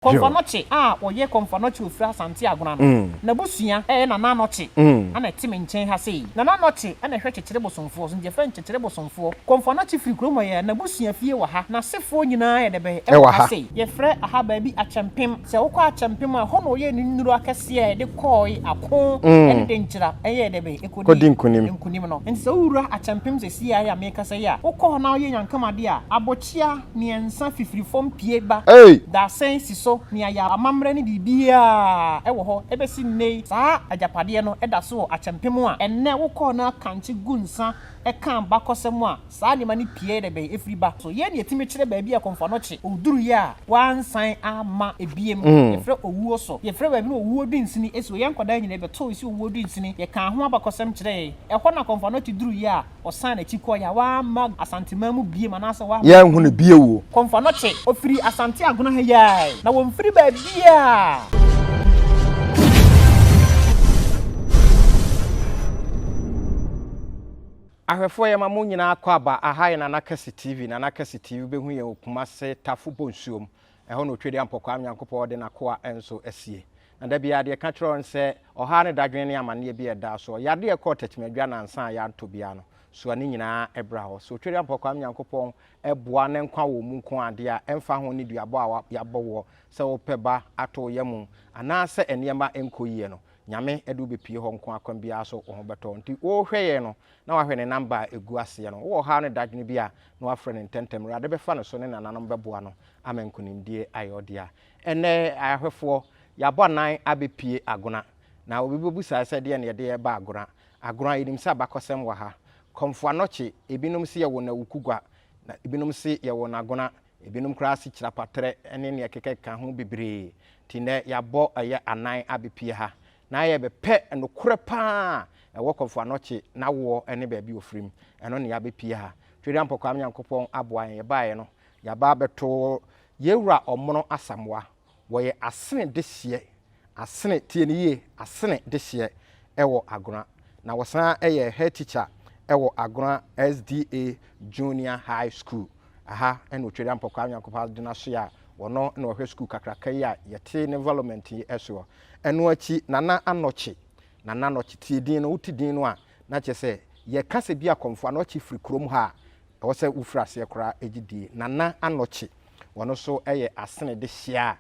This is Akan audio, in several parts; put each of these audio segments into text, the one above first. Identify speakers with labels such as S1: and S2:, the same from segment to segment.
S1: Komfɔnɔkye a ɔyɛ Komfɔnɔkye ofiri Asante Agona no, n'abusua yɛ Nana Anɔkye na ɛte me nkyɛn ha sei. Nana Anɔkye na ɛhwɛ Kyekyere Bosomfoɔ so nti yɛfrɛ no Kyekyere Bosomfoɔ. Komfɔnɔkye firi kurom hɔ yɛ n'abusua fie wɔ ha. N'asefoɔ nyinaa yɛ dɛbɛn wɔ ha sei. Yɛfrɛ aha baabi Akyɛmpem. Sɛ wokɔ Akyɛmpem a, ɛhɔ na ɔyɛɛ ne nnuro akɛseɛ a yɛde kɔɔe ako ne Denkyira yɛɛ dɛbɛn ɛkɔdii nkunim no. Nti sɛ wowura Akyɛmpem sesie ayɛ a meekasa yi a, wokɔ hɔ na woyɛ Nyankam adeɛ a, abɔ Hyia mmiɛnsa fifiri fam pue ba dasɛn si so nea yɛ amammerɛ ne biribiara wɔ hɔ ɛbɛsi nnɛ yi saa agyapadeɛ no da so wɔ akyɛmpem a ɛnnɛ wo kɔɔ na kankye gu nsa ɛka abakɔsɛm a saa nneɛma no pue da bɛn ɛfiri ba so yei na yɛtumi kyerɛ baabi a kɔmfoano kye ɔduruiɛ a wɔansan amma ɛbiem yɛfrɛ owuo so yɛfrɛ baabi no owuo dunsini ɛsi wɔ yɛn nkwadaa nyinaa bɛtoo ɛsi owuo dunsini yɛkaa ho abakɔsɛm kyerɛɛ ɛhɔ na kɔmfoano kye duruiɛ a Ɔsan n'akyi kɔe a, wamma Asanteman mu biom anaasɛ wamma. Yɛanhu no bio o.
S2: Kɔmfoanɔkye. Ɔfiri
S1: Asante Agona ha yi ara ɛ. Na wɔmfiri baabiara.
S2: Ahwɛfoɔ yɛma mo nyinaa akwaaba, aha yɛ Nana Kɛse TV, Nana Kɛse TV, wobɛhu yɛn wɔ Kumase, Tafo Bonsuom, Ɛhɔ na otwedeɛ mpɔkwaa no Nyankopɔn de n'akoa nso asie. Na da biara deɛ ɛka kyerɛ wɔn sɛ ɔhaw ne dadwene ne amanneɛ bi a ɛda soɔ, yadeɛ a ɛkɔɔ Tɛkyima-Adwa nnansa a yɛantɔ biara no, soa ne nyinaa bra hɔ. So otwedeɛ mpɔkwaa no Nyankopɔn boa na nkwa wɔ mu nko adeɛ a ɛmfa ho nneduabɔ a yɛabɔ woɔ sɛ wopɛ ba ato wo yam anaa sɛ nneɛma nkɔ yie no, Nyame de wo bɛpue hɔ nko a kwan biara so wo ho bɛtɔ wo. Nti worehwɛ yɛn no na wahwɛ ne namba a ɛgu aseɛ no. Wowɔ ɔhaw ne dadwene bi a na wafrɛ no ntɛntɛm. Awurade bɛfa no so ne nananom bɛboa no. ama nkonimdie ayɛ ɔdea. Ɛnnɛ, ahwɛfoɔ, yɛabɔ anan abɛpue Agona. Na obi bɛbusa sɛ deɛn na yɛde reba Agona? Agona, yɛnim sɛ abakɔsɛm wɔ ha. Kɔmfo Anokye, ebinom se yɛwoo no Awukugua, na ebinom se yɛwoo no Agona, ebinom koraa se Kyirapatrɛ ne nea ɛkekakeka ho bebree. Nti nnɛ, yɛabɔ ɛyɛ anan abɛpue ha na yɛrebɛpɛ nokorɛ pa ara a ɛwɔ Kɔmfo Anokye n'awoɔ ne baabi a ɔfirim. Ɛno na yɛabɛpue ha. Tweduampɔ Kwame Nyankopɔn aboa yɛn. Yɛbaeɛ no, Yɛaba abɛto yɛn wura Ɔmono Asamoah. Wɔyɛ asene dehyeɛ, asene, tie no yie, asene dehyeɛ wɔ Agona. Na wɔsan yɛ head teacher wɔ Agona SDA Junior High School. Ɛha na Otweri Ampɔkwaa Nyankopɔn Adom no asoeɛ a ɔno na ɔhwɛ sukuu kakraka yi a yɛte ne environment yi soɔ. Ɛno akyi, Nana Anokye, Nana Anokye, tie din no, wote din no a Na kyerɛ sɛ yɛka sɛ bi akɔmfo anɔkye firi kurom ha a, ɛwɔ sɛ wofiri aseɛ koraa gye die. Nana anɔkye, wɔno so yɛ asene de hyia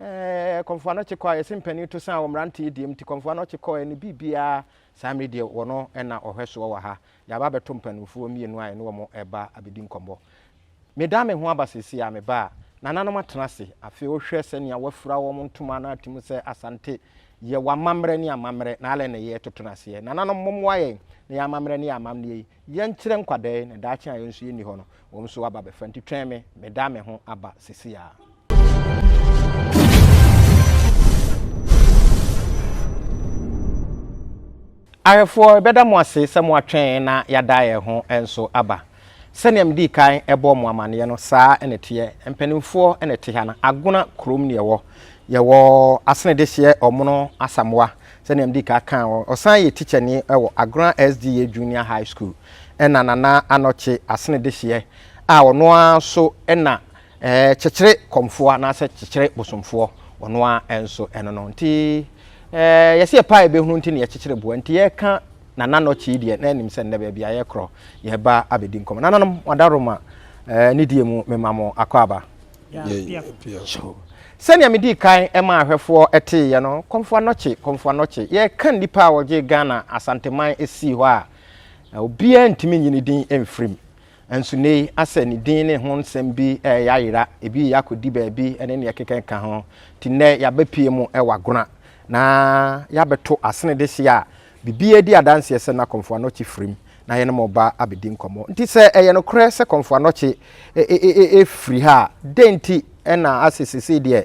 S2: a, ɛɛ, kɔmfo anɔkye kɔ a, yɛse mpanin to san wɔ mmeranteɛ deɛm nti, kɔmfo anɔkye kɔ ɛne biribiara, saa mmere deɛ wɔno na ɔhwɛ soɔ wɔ ha. Yɛaba abɛto mpaninfoɔ mmienu a yɛne wɔn reba abɛdi nkɔmmɔ. Meda me ho aba seesei a meba a nananom atena ase. Afei wohwɛ sɛnea wɔafura wɔn ntoma no ate mu sɛ Asante, yɛwɔ amammerɛ ne amammerɛ, na alɛ nneyɛɛ toto no aseɛ. Nananom, mommoa yɛn na yɛn amammerɛ ne yɛn amammerɛ yi yɛnkyerɛ nkwadaa yi na daakye a yɛn nso yɛnni hɔ no, wɔn nso aba abɛfa. Nti twɛn me, meda me ho aba seesei ara. Ahwɛfoɔ, yɛbɛda mo ase sɛ moatwɛn na yɛada yɛn ho nso aba. Sɛdeɛ medii kan bɔɔ mo amanneɛ no, saa na ɛteɛ. Mpanimfoɔ na ɛte ha no. Agona kurom na yɛwɔ. Yɛwɔ Asene Dehyeɛ Ɔmono Asamoah, sɛdeɛ medii kan kaa no. Ɔsan yɛ tikyani wɔ Agona SDA Junior High School. Ɛna Nana Anokye Asene Dehyeɛ a ɔno ara nso na Ɛɛ, kyekyere kɔmfoɔ anaasɛ kyekyere bosomfoɔ, ɔno ara nso ɛno no. Nti ɛɛ, yɛse yɛpɛ a yɛbɛhunu nti na yɛkyekyere boɔ. Nti yɛreka Nana Notchy yi deɛ, na ɛnim sɛ nnɛ baabi a yɛkorɔ, yɛreba abɛdi nkɔmmɔ. Nananom, mo adaworoma ɛɛ, nidie mu, mema mo akwaaba. Yɛapiaso. Sɛnea medii kan maa ahwɛfoɔ teeɛ no, Kɔmfoa Notchy, Kɔmfoa Notchy, yɛreka nnipa a wɔgyee Ghana Asanteman sii hɔ a, obiara ntumi nyi ne din mfirim. Nanso nnɛyi asɛ ne din ne ho nsɛm bi reyɛ ayera, ebi reyɛ akɔdi baabi ne nea ɛkeka ka ho. Nti nnɛ yɛabɛpue mu wɔ Agona na yɛabɛto asene dehye a biribiara di adanseɛ sɛ na Komfo Anokye firim na yɛne mo reba abɛdi nkɔmmɔ. Nti sɛ ɛyɛ nokorɛ sɛ Komfo Anokye firi ha a, dɛn nti na asɛ seesei deɛ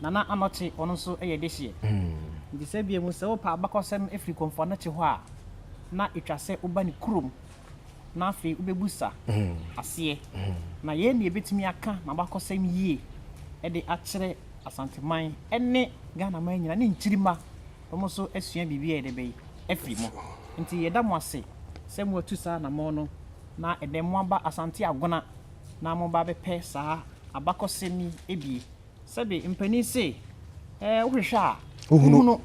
S2: Nana
S1: Anokye, ɔno nso yɛ dehyeɛ. Nti sɛ bia mu sɛ wopɛ abakɔsɛm firi Komfo Anokye hɔ a, na ɛtwa sɛ woba ne kurom na afei wobɛbusa aseɛ. Na yei na yɛbɛtumi aka n'abakɔsɛm yie de akyerɛ Asanteman ne Ghanaman nyinaa ne nkyirima, wɔn nso asua biribi ayɛ dɛ bɛn? afiri mu. Nti yɛda mo ase sɛ moatu saa anamɔn no na ɛdɛ moaba Asante Agona na moba abɛpɛ saa abakɔsɛm yi bie. Sɛbe mpanin se, eh, wohwehwɛ a. Wohunu. Wohunu.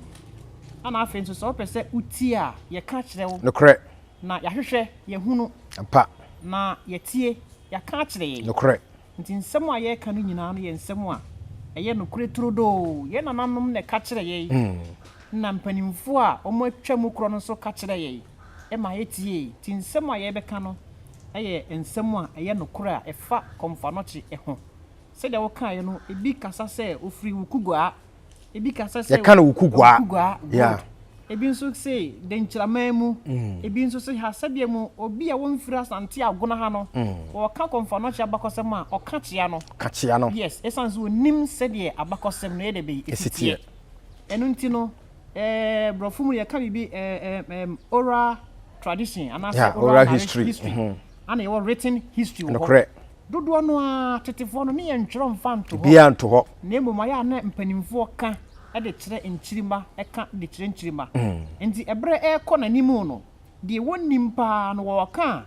S1: Ana afei nso sɛ wopɛ sɛ wotie a, yɛka kyerɛ wo. Nokorɛ. Na
S2: yɛahwehwɛ,
S1: yɛahunu. Ampa. Na
S2: yɛatie,
S1: yɛaka akyerɛ yɛn. Nokorɛ. Nti
S2: nsɛm a
S1: yɛreka no nyinaa no yɛ nsɛm a ɛyɛ nokorɛ turodoo. Yɛn nananom na ɛka kyerɛ yɛn, ɛna mpanimfoɔ a wɔatwa mu korɔ no nso ka kyerɛ yɛn ma yɛtie. Nti nsɛm a yɛrebɛka no yɛ nsɛm a ɛyɛ nokorɛ a ɛfa Kɔmfanɔkye ho. Sɛdeɛ wokaeɛ no, ebi kasa sɛ ofiri Wukuguaa, ebi kasa sɛ yɛka no Wukuguaa, Wukuguaa
S2: gold, yeah. ebi nso se
S1: Denkyiraman mu, mm. ebi nso se ha sɛdeɛ mu obi a wɔmfiri Asante Agona ha no, mm. wɔka kɔmfanokyea abakɔsɛm a ɔka kyea no. Ka kyea no. Yes, ɛsiane sɛ ɔnim sɛdeɛ abakɔsɛm no yɛde bɛyi ɛsiteɛ. Ɛno nti no, eh, borɔfo mu yɛka biribi eh, eh, oral tradition anaasɛ yeah, oral, oral history, history.
S2: Mm -hmm. ana yɛwɔ
S1: written history wɔ hɔ Dodoɔ
S2: no ara,
S1: tetefoɔ no, ne yɛn ntwerɛ mfa nto hɔ. Biaa nto hɔ. Na mmom
S2: ayɛ a na
S1: mpanimfoɔ ka de kyerɛ nkyirima ka de kyerɛ nkyirima. Nti ɛberɛ ɛrekɔ n'anim no, deɛ wɔnnim paa no wɔɔka a,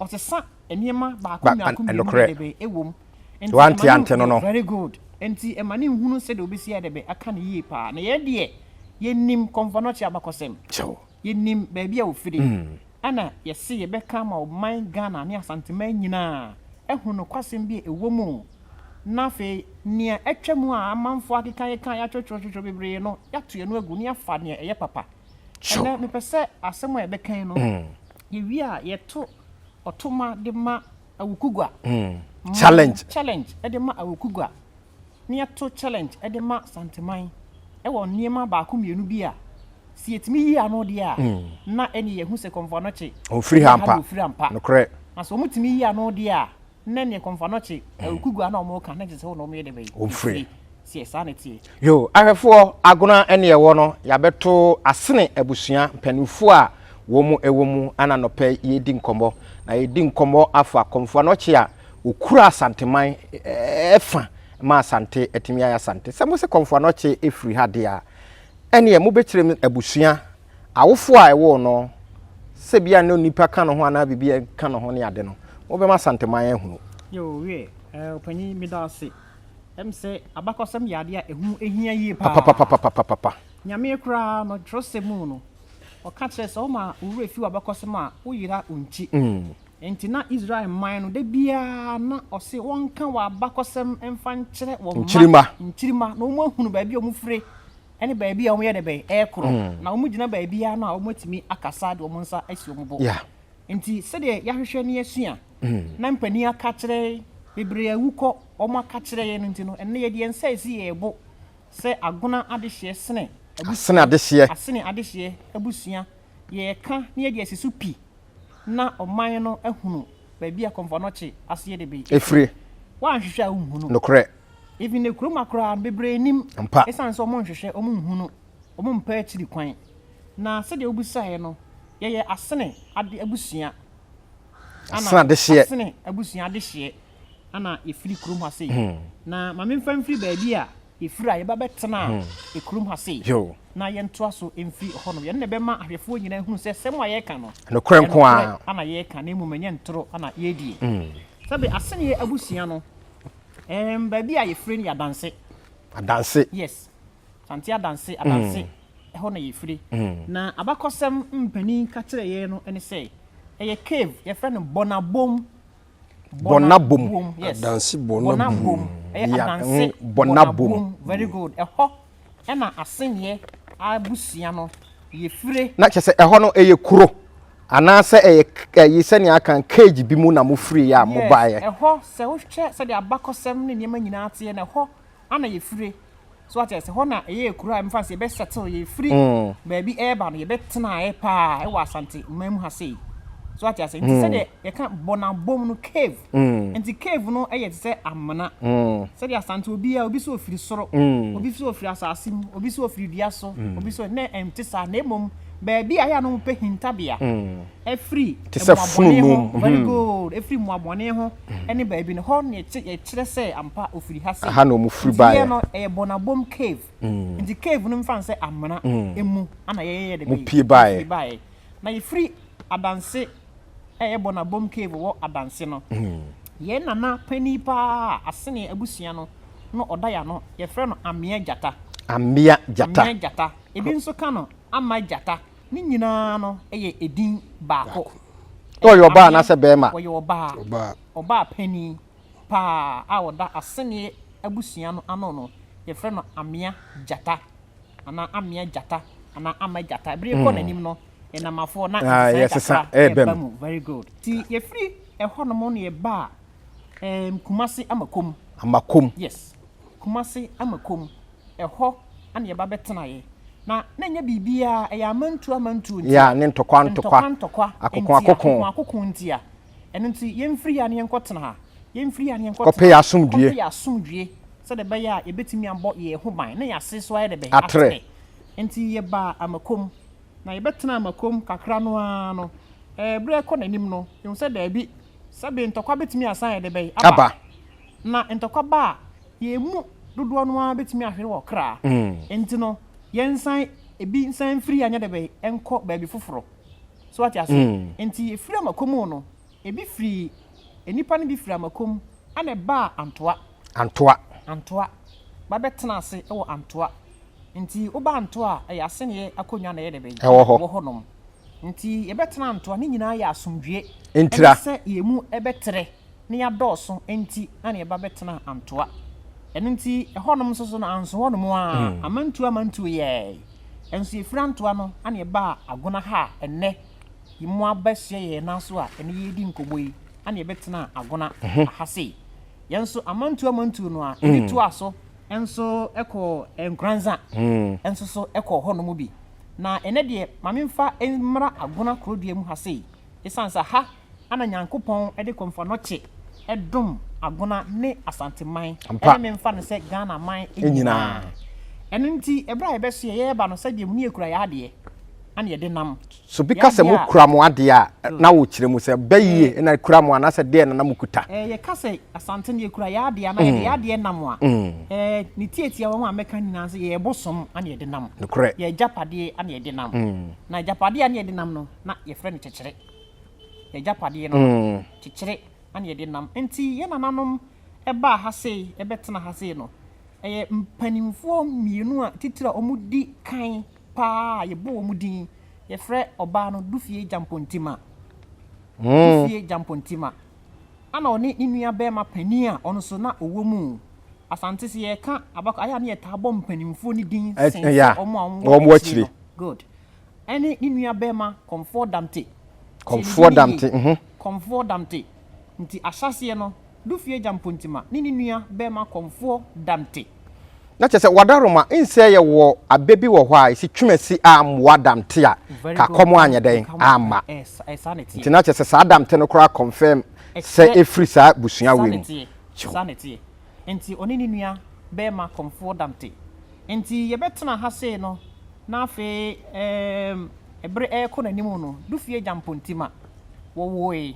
S1: ɔsesa nneɛma baako mmiako mmienu dɛdɛbɛ wɔ mu. Nti ɛma no yɛ very
S2: good. Nti
S1: ɛma no nhunu sɛdeɛ ɔbɛsi ayɛ dɛdɛbɛ aka no yie paa. Na yɛn deɛ, yɛnnim kɔmfɔnɔkye abakɔsɛm. yɛnim baabi a ɔfiri, ɛna yɛse yɛbɛka ama ɔman Ghana ne Asanteman nyinaa ahunu nokwasɛm bi a ɛwɔ mu, na afei nea atwa mu a amanfoɔ akekakeka, yɛatwetwetwetwe bebree no, yɛato ɛno agu na yɛafa nea ɛyɛ papa. Ɛnɛ mepɛ sɛ asɛm a yɛbɛka yi no, yɛwie a yɛto ɔtoma de ma Awukugua, challenge de ma Awukugua. na yɛto challenge de ma Santeman wɔ nneɛma baako mmienu bi a sɛ yɛtumi yi ano deɛ a mm. na ɛne yɛhu sɛ kɔmfoanɔkye ɔfiri ha mpa ɔfiri
S2: ha mpa nokorɛ na sɛ wɔtumi yi ano
S1: deɛ a na ɛne kɔmfoanɔkye awukugua mm. na wɔn ka na gye sɛ wɔn na wɔn yɛ de bɛyi ɔfiri sɛ
S2: saa na ɛteɛ.
S1: yo ahwɛfoɔ
S2: agona ɛne ɛwɔ no yɛabɛto asene abusua mpanimfoɔ a wɔn ɛwɔ mu ana nɔpɛ yɛdi nkɔmmɔ na yɛdi nkɔmmɔ afa kɔmfoanɔkye a ɔkura Asanteman fa ma Asante atumi ayɛ Asante. Sɛ mose Kɔmfoa no ɔkye ɛfiri ha deɛ a, ɛneɛ mobɛkyerɛ mu abusua, awofoɔ a ɛwoo no, sɛ bia ne onipa ka ne ho anaa biribi a ɛka ne ho ne ade no, mobɛma Asanteman ahunu. Yoo wiɛ
S1: ɛɛ ɔpanyin meda ase ɛm sɛ abakɔsɛm yɛ adeɛ a ɛho ɛhia yie paa papapapapapapa nyameɛ koraa no twerɛsɛm mu no ɔka kyerɛ sɛ ɔma owura fi wabakɔsɛm a wo yera ɔnkyi mm. Enti na Israel man no da biara na ɔse wɔnka w'abakɔsɛm mfa nkyerɛ wɔn mma nkyirimma na wɔahunu baabi a wɔfire ne baabi a wɔyɛ dɛ bɛn ɛkorɔ na wɔgyina baabiara no a wɔatumi akasa de wɔn nsa asi wɔn bo. Enti sɛdeɛ yɛahwehwɛ ne yɛasua na mpanin aka kyerɛ yɛn bebree awu kɔ wɔn aka kyerɛ yɛn no nti no ɛnɛ yɛde yɛn nsa asi yɛn bo sɛ agona adehyeɛ sene abusua asene adehyeɛ abusua yɛka na yɛde asi so pi. na ɔman no ahunu baabi a Kɔmfoanɔkye aseɛ de be. Efire. Woanhwehwɛ
S2: a
S1: wonhu no. Nokorɛ.
S2: Even ne kurom
S1: akoraa no bebree nnim. Ampa. Esiane sɛ wɔnhwehwɛ, wɔnhu no, wɔmpa akyiri kwan. Na sɛdeɛ wobisaeɛ no, Yɛyɛ asene ade abusua. Ana Asene adehyeɛ. Asene abusua adehyeɛ. na yɛfiri kurom ha sei. Hmm. Na ma memfa mfiri baabi a yɛfiri a yɛba bɛtena hmm. kurom ha sei. Na yɛntoa so mfiri hɔ no. Yɛn na ɛbɛma ahwɛfoɔ nyinaa hunu sɛ sɛm a yɛreka no. Nokorɛ nko ara.
S2: Ana yɛreka na mmom
S1: ɛnyɛ ntoro ana yɛredie. Hmm. Sɛbe aseneɛ abusua no, um, baabi a yɛfiri no yɛ adanse. Adanse. Yes. Sante adanse, adanse. Ɛhɔ na yɛfiri. Na abakɔsɛm mpanin ka kyerɛ yɛn no ne sɛ ɛyɛ cave yɛfrɛ no bɔnabom Bɔna bom. Adanse bɔna bom.
S3: Ɛyɛ adanse
S1: bɔna bom. Very good. Ɛhɔ ɛna aseneɛ abusua no yɛ fire. Na kyɛ sɛ ɛhɔ no ɛyɛ
S2: kuro anaasɛ ɛyɛ ɛyi sɛnea aka cage bi mu na mo firi yɛ a mo baeɛ. Ɛhɔ sɛ wohwɛ
S1: sɛdeɛ abakɔsɛm ne nneɛma nyinaa teɛ na ɛhɔ ana yɛfire so wate ase hɔ na ɛyɛ kuro a mfa sɛ yɛbɛ settle yɛfiri baabi ɛreba no yɛbɛ tenaeɛ paa ɛwɔ asante man mu ha sei so wate ase nti sɛdeɛ yɛka bɔnabom no cave nti cave no ɛyɛ te sɛ amena sɛdeɛ asante obiara obi so ofiri soro obi so ofiri asase mu obi so ofiri dua so obi so ne ɛnte saa na mmom baabi a yɛ a no pɛ hintabea ɛfiri mmoabɔne ho very good ɛfiri mmoabɔne ho ne baabi no, hɔ na yɛte, yɛkyerɛ sɛ ampa ofiri ha sei. Ɛha na wɔn firi baeɛ. Nti yɛ no,
S2: ɛyɛ Bɔnabom
S1: Cave. Mm. Nti cave no mfa no sɛ amena mm. mu ana yɛyɛ de bɛyɛ. Mopie baeɛ. Mopie baeɛ.
S2: Na yɛfiri
S1: Adanse ɛyɛ Bɔnabom Cave wɔ Adanse no. Mm. Yɛn nana panin paa asene abusua no no ɔda yɛ ano, yɛfrɛ no Amea Gyata. Amea Gyata. Amea Gyata. Ebi nso ka no Ama Gyata. Ne nyinaa no yɛ edin baako. Baako. Sɛ ɔyɛ ɔbaa
S2: anaasɛ barima. Ɔyɛ ɔbaa. Ɔbaa.
S1: Ɔbaa panin paa a ɔda Aseneɛ abusua no ano no, yɛfrɛ no Amea Gyata anaa Amea Gyata anaa Ama Gyata. Bere rekɔ n'anim no, yɛnam afoɔ na Ah, nsesaeɛ yɛsesa kakra ɛreba reba mu. mu.
S2: Very good. Nti
S1: yɛfiri ɛhɔnom na yɛbaa ɛɛm, Kumase Amakom. Amakom. Yes. Kumasi ama kɔm. Ɛhɔ na yɛba bɛtenaeɛ. Na na ɛnyɛ biribiara, ɛyɛ amantuo amantuo nti. Yeah, ne ntɔkwa
S2: ntɔkwa. Ntɔkwa ntɔkwa. Akoko akoko. Akoko
S1: akoko nti a. Ɛno nti yɛmfiri ha na yɛnkɔtena ha. Yɛmfiri ha na yɛnkɔtena ha. Kɔpɛ yɛn asomdwoeɛ. Kɔpɛ yɛn
S2: asomdwoeɛ. Sɛdeɛ ɛbɛyɛ
S1: a yɛbɛtumi abɔ yɛn ho ban na yɛn ase nso ayɛ dɛ bɛn? Atrɛ.
S2: Nti
S1: yɛbaa Amakom. Na yɛbɛtenaa Amakom kakra no ara no, ɛɛ berɛ rekɔ n'anim no, yɛhunu sɛ daabi, sɛbe ntɔkwa bɛtumi asan ayɛ dɛ bɛn? Aba.
S2: Na ntɔkwa
S1: ba a, yɛn mu dodoɔ no ara bɛtumi ahwere wɔ kra. Enti no, yɛnsan ebi nsan mfiri yɛ anyɛ dɛbɛn nkɔ baabi foforɔ. So wate aseɛ? Enti yɛfiri Amako mu no, ebi firii, nnipa no bi firii Amako mu ɛna ɛbaa Antoa. Antoa. Antoa. Ba bɛtenaa ase wɔ Antoa. Enti woba Antoa a, ɛyɛ asɛnniɛ akonnwa na ɛyɛ dɛbɛn? Ɛwɔ hɔ. Ɛwɔ hɔnom. Enti yɛbɛtena Antoa, ne nyinaa yɛ asomdwoeɛ. Ntira. Ɛne sɛ yɛn
S2: mu
S1: bɛtrɛ. na yɛadɔɔso nti na yɛba bɛtenaa Antoa. Ɛno nti, ɛhɔnom nso so no, anso hɔnom ara, hmm. amantuo amantuo yɛɛe. Nso yɛfiri Antoa no na yɛbaa Agona ha a ɛnnɛ mo abɛhyɛ yɛn nan so a ɛne yɛredi nkɔmmɔ yi na yɛbɛtenaa Agona mhm. ha sei. Yɛn nso amantuo amantuo no a ɛbi hmm. toa so nso ɛkɔ Nkoranza hmm. nso so ɛkɔ hɔnom bi. Na ɛnɛ deɛ maame mfa mmra Agona kurodua mu ha sei. Ɛsiane sɛ ha Ana Nyankopɔn de Komfɔnɔkye dom Agona ne Asante man ne me mfa no sɛ Ghana man nyinaa? Ɛno nti ɛberɛ a yɛbɛsoɛ yɛn ba no sɛdeɛ mu yɛkura yɛn adeɛ na yɛde nam. So bi ka sɛ mo
S2: kura mo adeɛ a na wo kyerɛ mu sɛ bɛ yie na kura mo anaasɛ deɛ na na mo kuta? Ɛɛ yɛ ka sɛ
S1: Asante no yɛ kura yɛn adeɛ anaa yɛde yɛn adeɛ nam a ɛɛ ne tiatia wɔn a mɛka nyinaa sɛ yɛ bosom na yɛde nam. Nokorɛ. Yɛ agyapadeɛ na yɛde nam. Na agyapadeɛ na yɛde nam no na yɛfrɛ no kyekyere. n'agyapadeɛ no no, kyekyere na yɛde nam. Enti yɛn nananom baa ha sei, bɛtena ha sei no, ɛyɛ mpanimfoɔ mmienu a titire a wɔdi kan pa ara a yɛbɔ wɔn din. Yɛfrɛ ɔbaa no Dufie Gyampontima. Dufie Gyampontima. Ɛna ɔne ne nua barima panin a ɔno nso na ɔwɔ mu. Asante sɛ yɛka abakɔ ayɛ a na yɛtaa bɔ mpanimfoɔ no din sen sɛ wɔn a wɔwɔ akyire no. Good. ɛne ne nua bɛɛma Kɔmfoɔ Damte. Kɔmfoɔ Damte mhm. Kɔmfoɔ Damte. Nti ahyɛaseɛ no, Dufie Agya Mpontima ne ne nua bɛɛma Kɔmfoɔ Damte. Na kyerɛ sɛ
S2: Wadaroma nsɛ yɛ wɔ abɛ bi wɔ hɔ a ɛsi Twumasi a mmoa Damte a ka kɔm anyɛ dɛn amma. Nti na kyerɛ sɛ saa Damte no koraa confirm sɛ ɛfiri saa busua wei mu. Saa na ɛteɛ.
S1: Nti ɔne ne nua bɛɛma Kɔmfoɔ Damte. Enti yɛbɛtena ha sei no na afei eeem bere rekɔ n'anim no, Dufie Gyampontima, wɔwoe.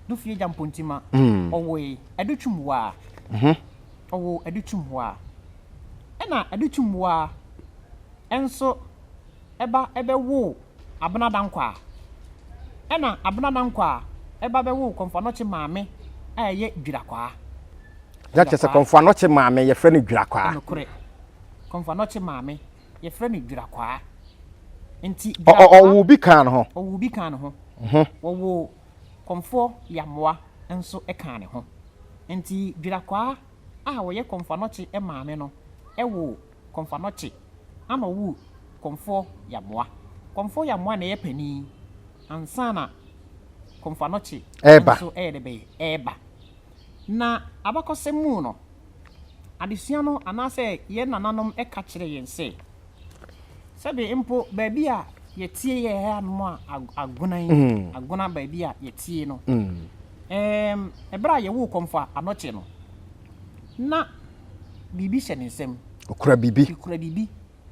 S1: Dufie Gyampontima, ɔwoe Adutwumwaa. Ɔwoo Adutwumwaa. Ɛna Adutwumwaa nso. ba bɛwoo Abena Dankwah. Ɛna Abena Dankwah ba bɛwoo Kɔmfo Anokye maame a ɛyɛ Dwirakwaa. Na
S2: kyerɛ sɛ Kɔmfo Anokye maame yɛfrɛ no Dwirakwaa. Ɛnokorɛ.
S1: Kɔmfo Anokye maame yɛfrɛ no Dwirakwaa. Nti Dwirakwaa. Ɔwoo bi
S2: kaa ne ho. Ɔwoo bi kaa ne ho. Wɔwoo
S1: Kɔmfoɔ Yamoa nso kaa ne ho. Nti Dwirakwaa a ɔyɛ Kɔmfo Anokye maame no woo. Kɔmfoɔ no kye ana ɔwu Kɔmfoɔ Yamoa Kɔmfoɔ Yamoa na ɛyɛ panin ansa na Kɔmfoɔ no kye nso ɛyɛ dɛ bɛyɛ ɛɛba na abakɔsɛm mu no adesua no anaasɛ yɛn nananom ɛka kyerɛ yɛn sɛ sɛbe mpo baabi a yɛtie yɛ ɛyɛ anom a agona yi agona baabi a yɛtie no ɛɛm ɛberɛ a yɛwoo Kɔmfoɔ Anɔkye no na biribi hyɛ ne nsam. Okura biribi. Okura
S2: biribi.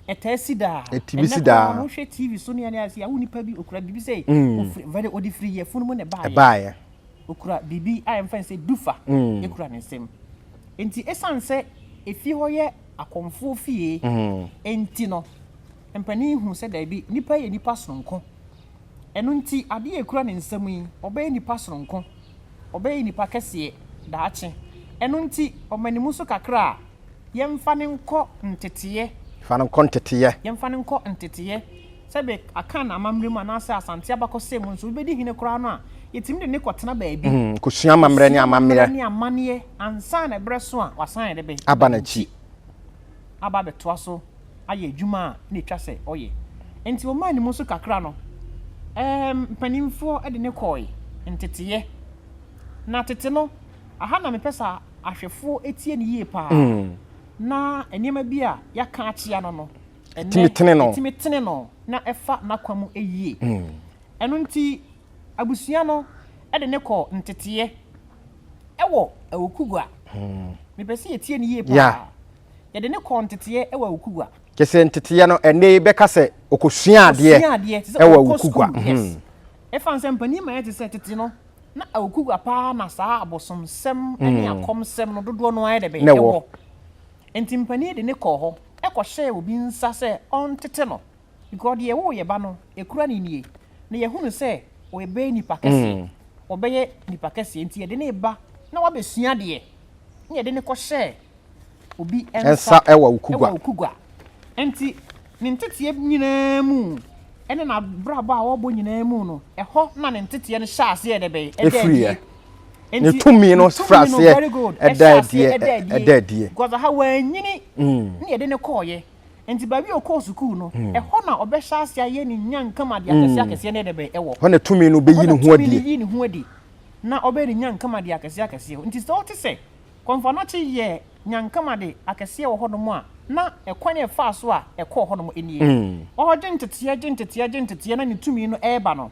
S2: Ɛtaa si
S1: daa. Ɛtumi si daa. Ɛnɛ
S2: wohwɛ TV so ne
S1: ane ase awo nipa bi okura biribi sɛ mm. ofiri very odi firi yɛ funu mu na ɛbaayɛ. Ɛbaayɛ.
S2: Okura biribi
S1: a yɛmfa sɛ dufa. Mm. Ekura ne nsam. Nti esan sɛ efie hɔ yɛ akɔmfoɔ fie. Mm. Nti no mpanin hu sɛ daabi nipa yɛ nipa sononko. Ɛno nti, adeɛ a ɛkura ne nsam yi, ɔbɛyɛ nnipa sononko. Ɔbɛyɛ nnipa kɛseɛ daakye. Ɛno nti, ɔmane mu so kakra a, yɛmfa no nkɔ nteteeɛ. Fa no nkɔ nteteeɛ. Yɛmfa no nkɔ nteteeɛ. Sɛ be, Akan amammerɛ mu anaasɛ Asante abakɔsɛm mu nso, obi bɛdi hene koraa no a, yɛtumi de no kɔtena baabi. Kɔsua amammerɛ ne amanneɛ. Kɔsua
S2: amammerɛ ne amanneɛ
S1: ansa na ɛberɛ so a wasan de be. Aba no akyi. aba abɛtoa so ayɛ adwuma a na etwa sɛ ɔyɛ. Enti wɔmaa ne mu so kakra no, ɛɛm, mpanimfoɔ de no kɔe nteteeɛ. Na tete no, aha na mepɛ sɛ ahwɛfoɔ tie no yie paa, na nneɛma bi a yɛaka akyea no no, ɛnnɛ, ɛtumi tene no na ɛfa n'akwan mu yie. Ɛno nti, abusua no de no kɔɔ nteteeɛ. Ɛwɔ Awukugua. Mepɛ sɛ yɛtie no yie paa. Yeah. Yɛde no kɔɔ nteteɛ ɛwɔ Awukugua. Kyɛ sɛ nteteɛ no,
S2: ɛnɛ yi bɛka sɛ ɔkɔsua adeɛ Ɔsua adeɛ te sɛ ɛwɔ ɔkɔ Awukugua. sukuu. Yes. Mhm. Ɛfan
S1: sɛ mpanin ma yɛte sɛ tete no, na Awukugua paa na saa abosomsɛm ne akɔmsɛm no dodoɔ no ara yɛ dɛ bɛn? Na ɛwɔ. Ɛwɔ. Enti mpanin de no kɔɔ hɔ kɔhyɛɛ obi nsa sɛ ɔntete no. Because deɛ ɛwoo yɛba no ɛkura ne nie na yɛhunu sɛ ɔbɛyɛ nipa kɛseɛ mm. ɔbɛyɛ nipa kɛseɛ nti yɛde ne ba na wabɛsua deɛ na yɛde ne kɔhyɛ obi nsa ɛwɔ okugwa ɛwɔ okugwa
S2: nti
S1: ne nteteɛ nyinaa mu ɛne n'abrabɔ a ɔrebɔ nyinaa mu no ɛhɔ na ne nteteɛ no hyɛ aseɛ ɛdɛ bɛyɛ ɛdɛ adie
S2: ne tumi no fira aseɛ ɛdɛ adie ɛdɛ adie because aha wɔanyini
S1: mm. ne yɛde ne kɔɔyɛ Enti baabi a ɔkɔɔ sukuu no, ɛhɔ na ɔbɛhyɛ ase ayɛ ne nyankam adeɛ akɛseɛ akɛseɛ ne ɛdɛ bɛn ɛwɔ. Hɔ na tumi no bɛyi ne
S2: ho adie. Ɛhɔ na tumi no yi ne ho adi na ɔbɛyɛ ne
S1: nyankam adeɛ akɛseɛ akɛseɛ. Enti sɛ wote sɛ Kwanfanakye yɛ nyankam ade akɛseɛ wɔ hɔnom a, na ɛkwan a ɛfaa so a ɛkɔɔ hɔnom nie. Ɔregye nteteɛ, gye nteteɛ, gye nteteɛ na ne tumi no reba no,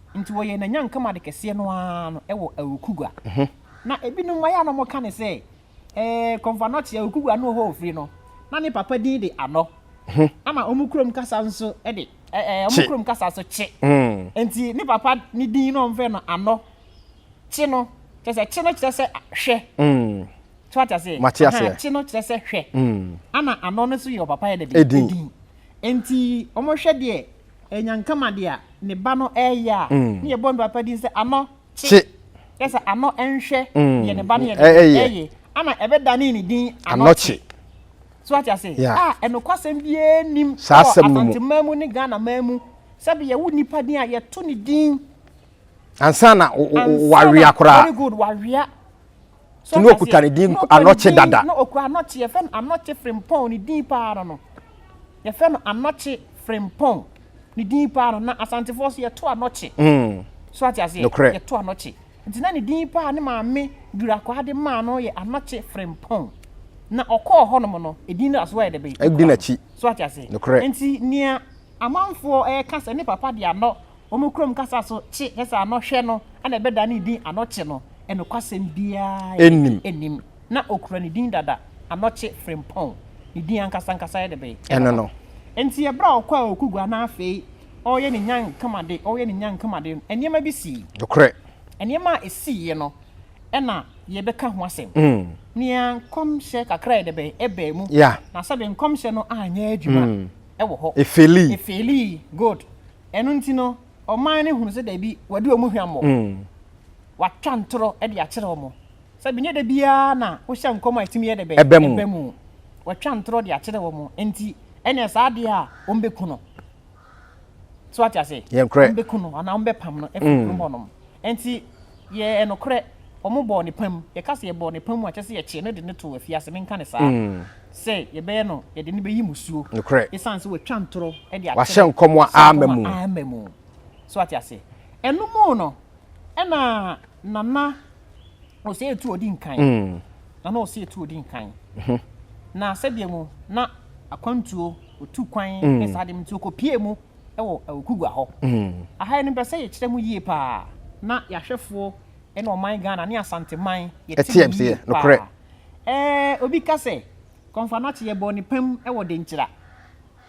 S1: Nti wɔyɛɛ n'anyanka mu ade kɛseɛ no ara no wɔ Awukugua. Na ebinom mma yɛ a na wɔka no sɛ, Ɛɛ, Kɔmfɔanɔkye, Awukugua no hɔ ɔfiri no, na ne papa din de Anɔ. Ama wɔn kurom kasa nso de, ɛɛ, wɔn kurom kasa nso Kye. Nti ne papa ne din na wɔfrɛ no Anɔ. Kye no, kyerɛ sɛ, Kye no kyerɛ sɛ hwɛ. So wate aseɛ? Mate aseɛ. Aha, Kye no kyerɛ sɛ hwɛ. Ɛna Anɔ no nso yɛ ɔpapa yɛ dɛ bɛn? Edin. Edin. Nti wɔhwɛ deɛ Nyankama dea ne ba no ɛɛyɛ a ne yɛbɔ no papa din sɛ Ano kye kyerɛ sɛ ano nhwɛ deɛ ne ba no yɛ no ɛɛyɛ ana ɛbɛdane ne din Ano kye so wate ase a ɛnokwasɛm biaa nnim wɔ Asante man mu ne Ghana man mu sɛ bi yɛwo nipa din a yɛto ne din ansa
S2: na wawea koraa very good wawea
S1: so ne
S2: okuta ne din anɔkye dada na okura anɔkye yɛfɛ
S1: no anɔkye frimpɔn ne din paa no no yɛfɛ no anɔkye frimpɔn ne din paa no na asantefoɔ so yɛto anɔkye mm. so ate aseɛ yɛto anɔkye nti na ne din paa ne maame durakwaa de maa no yɛ anɔkye frimpɔn na ɔkɔɔ hɔnom no edin no aso ayɛ dɛbɛ ɛdi n'akyi so ate
S2: aseɛ
S1: nti nea amanfoɔ ɛka sɛ ne papa de anɔ wɔn kurom kasa so kye kyerɛ sɛ anɔhwɛ no na ɛbɛda ne din Anɔkye no, nokwasɛm biara nnim. Ná okura ne din dada, Anɔkye Frimpong. Ne din ankasankasa yɛ dɛbɛn? Ɛno no. Enti
S2: bere a
S1: ɔkɔɔ Okugua na afei ɔreyɛ ne nyankamade, ɔreyɛ ne nyankamade no, nneɛma bi sii. Nokorɛ.
S2: Nneɛma a
S1: esiiɛ no na yɛbɛka ho asɛm. Nea nkɔmhyɛ kakra yɛ dɛbɛn? Ɛbaa mu. Na sɛbe nkɔmhyɛ no anyɛ adwuma wɔ hɔ. Efeelii. Efeelii. Good. Ɛno nti no, ɔman no hunu sɛ dabi, wɔadi wɔn hwammɔ. Wɔatwa ntorɔ de akyerɛ wɔn. Sɛbe ɛnyɛ da biara na wohyɛ nkɔm a ɛtumi yɛ dɛ bɛn? Ɛba mu. Ɛba mu. Wɔatwa ntorɔ de akyerɛ wɔn. Enti, ɛnneɛ saa adeɛ a wɔbɛku no, so ate ase? Yɛnkorɛ. Wɔbɛku no anaa wɔbɛpam no afiri kurom hɔnom. Enti, Yɛ nokorɛ, wɔn bɔɔ ne pam. Yɛka sɛ yɛbɔɔ ne pam a, kyerɛ sɛ yɛkyee no de no too afiase, menka no saa, sɛ yɛbɛyɛ no, yɛde no bɛyi mmusuo, Nokorɛ. esiane sɛ watwa ntorɔ de akyerɛ Wahyɛ sɛ nkɔm a nkɔm amma
S2: a mu. amma mu.
S1: So wate aseɛ? Ɛno mu no, ɛna Nana Osei Tuo di nkan. Nana Osei Tuo di nkan. Na sɛdeɛ mu na akwantuo, ɔtu kwan, ne saa adeɛ no nti, ɔkɔpuee mu. wɔ Awukugua hɔ. Aha yi no mpɛ sɛ yɛkyerɛ mu yie paa na yɛahwɛfoɔ ne ɔman Ghana ne Asanteman yɛte mu yie paa.
S2: Ɛɛ obi
S1: ka sɛ Kɔmfanakye yɛbɔɔ ne pam wɔ Denkyira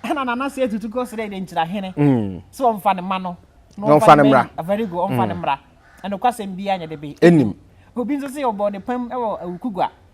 S1: ɛna Nana Sey Tutu kɔ srɛɛ Denkyira hene sɛ ɔmfa ne mma no na ɔmfa ne mmra.
S2: Very good ɔmfa ne
S1: mmra. Nokwasɛm biara nyɛ de be ɛnim. Obi nso
S2: se ɔbɔɔ
S1: ne pam wɔ Awukugua.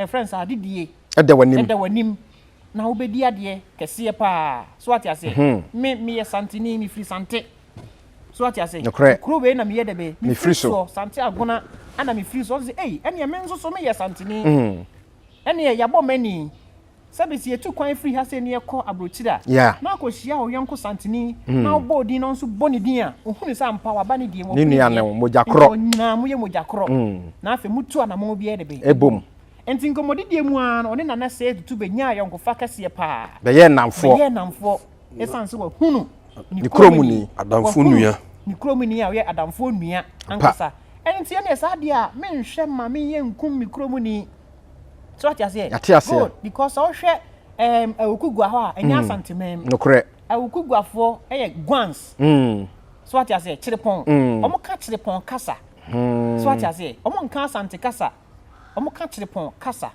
S1: yɛfrɛ no sɛ adedie ɛda w'anim ɛda
S2: w'anim
S1: na wobɛdi adeɛ kɛseɛ paa so ate aseɛ mhm. me meyɛ santeni mefiri sante so ate aseɛ kuro wei na meyɛ dɛ bɛ mefiri soɔ sante agona ana mefiri soɔ sɛ ei ɛneɛ me nso so meyɛ santeni mhm. ɛneɛ yɛabɔ m'ani Sɛbe se yetu kwan firi ha sei ne yɛkɔ aburokyire a, na akɔhyia ɔyɔnko Santini na ɔbɔɔ din na ɔnso bɔ ne din a, ɔhunu sɛ ampa waba ne deɛ, wɔfiri deɛ, nti
S2: wɔn nyinaa moyɛ mogya
S1: korɔ, na afei motu anamɔn biara de bɛ bom. Nti
S2: nkɔmmɔdideɛ
S1: mu ara no, ɔne Nana Sead Tutu bɛnyaa ayɔnkofa kɛseɛ paa. Bɛyɛɛ nnamfoɔ. Bɛyɛɛ
S2: nnamfoɔ ɛsiane sɛ
S1: wɔahunu ne kuromuni,
S2: wɔahunu
S3: ne kuromuni a ɔyɛ
S1: adamfoɔ nua ankasa. Ɛno nti ɛnneɛ saa deɛ a, menhwɛ mma menyɛ nkum me kuromuni. so ɔte aseɛ yɛate aseɛ good because sɛ wohwɛ um, awukugua hɔ a ɛnyɛ mm. asanteman mu nokorɛ
S2: awukuguafoɔ
S1: ɛyɛ guans mm. so ɔte aseɛ kyerepɔn mm. wɔn ka kyerepɔn kasa mm. so ɔte aseɛ wɔn nka asante kasa wɔn ka kyerepɔn kasa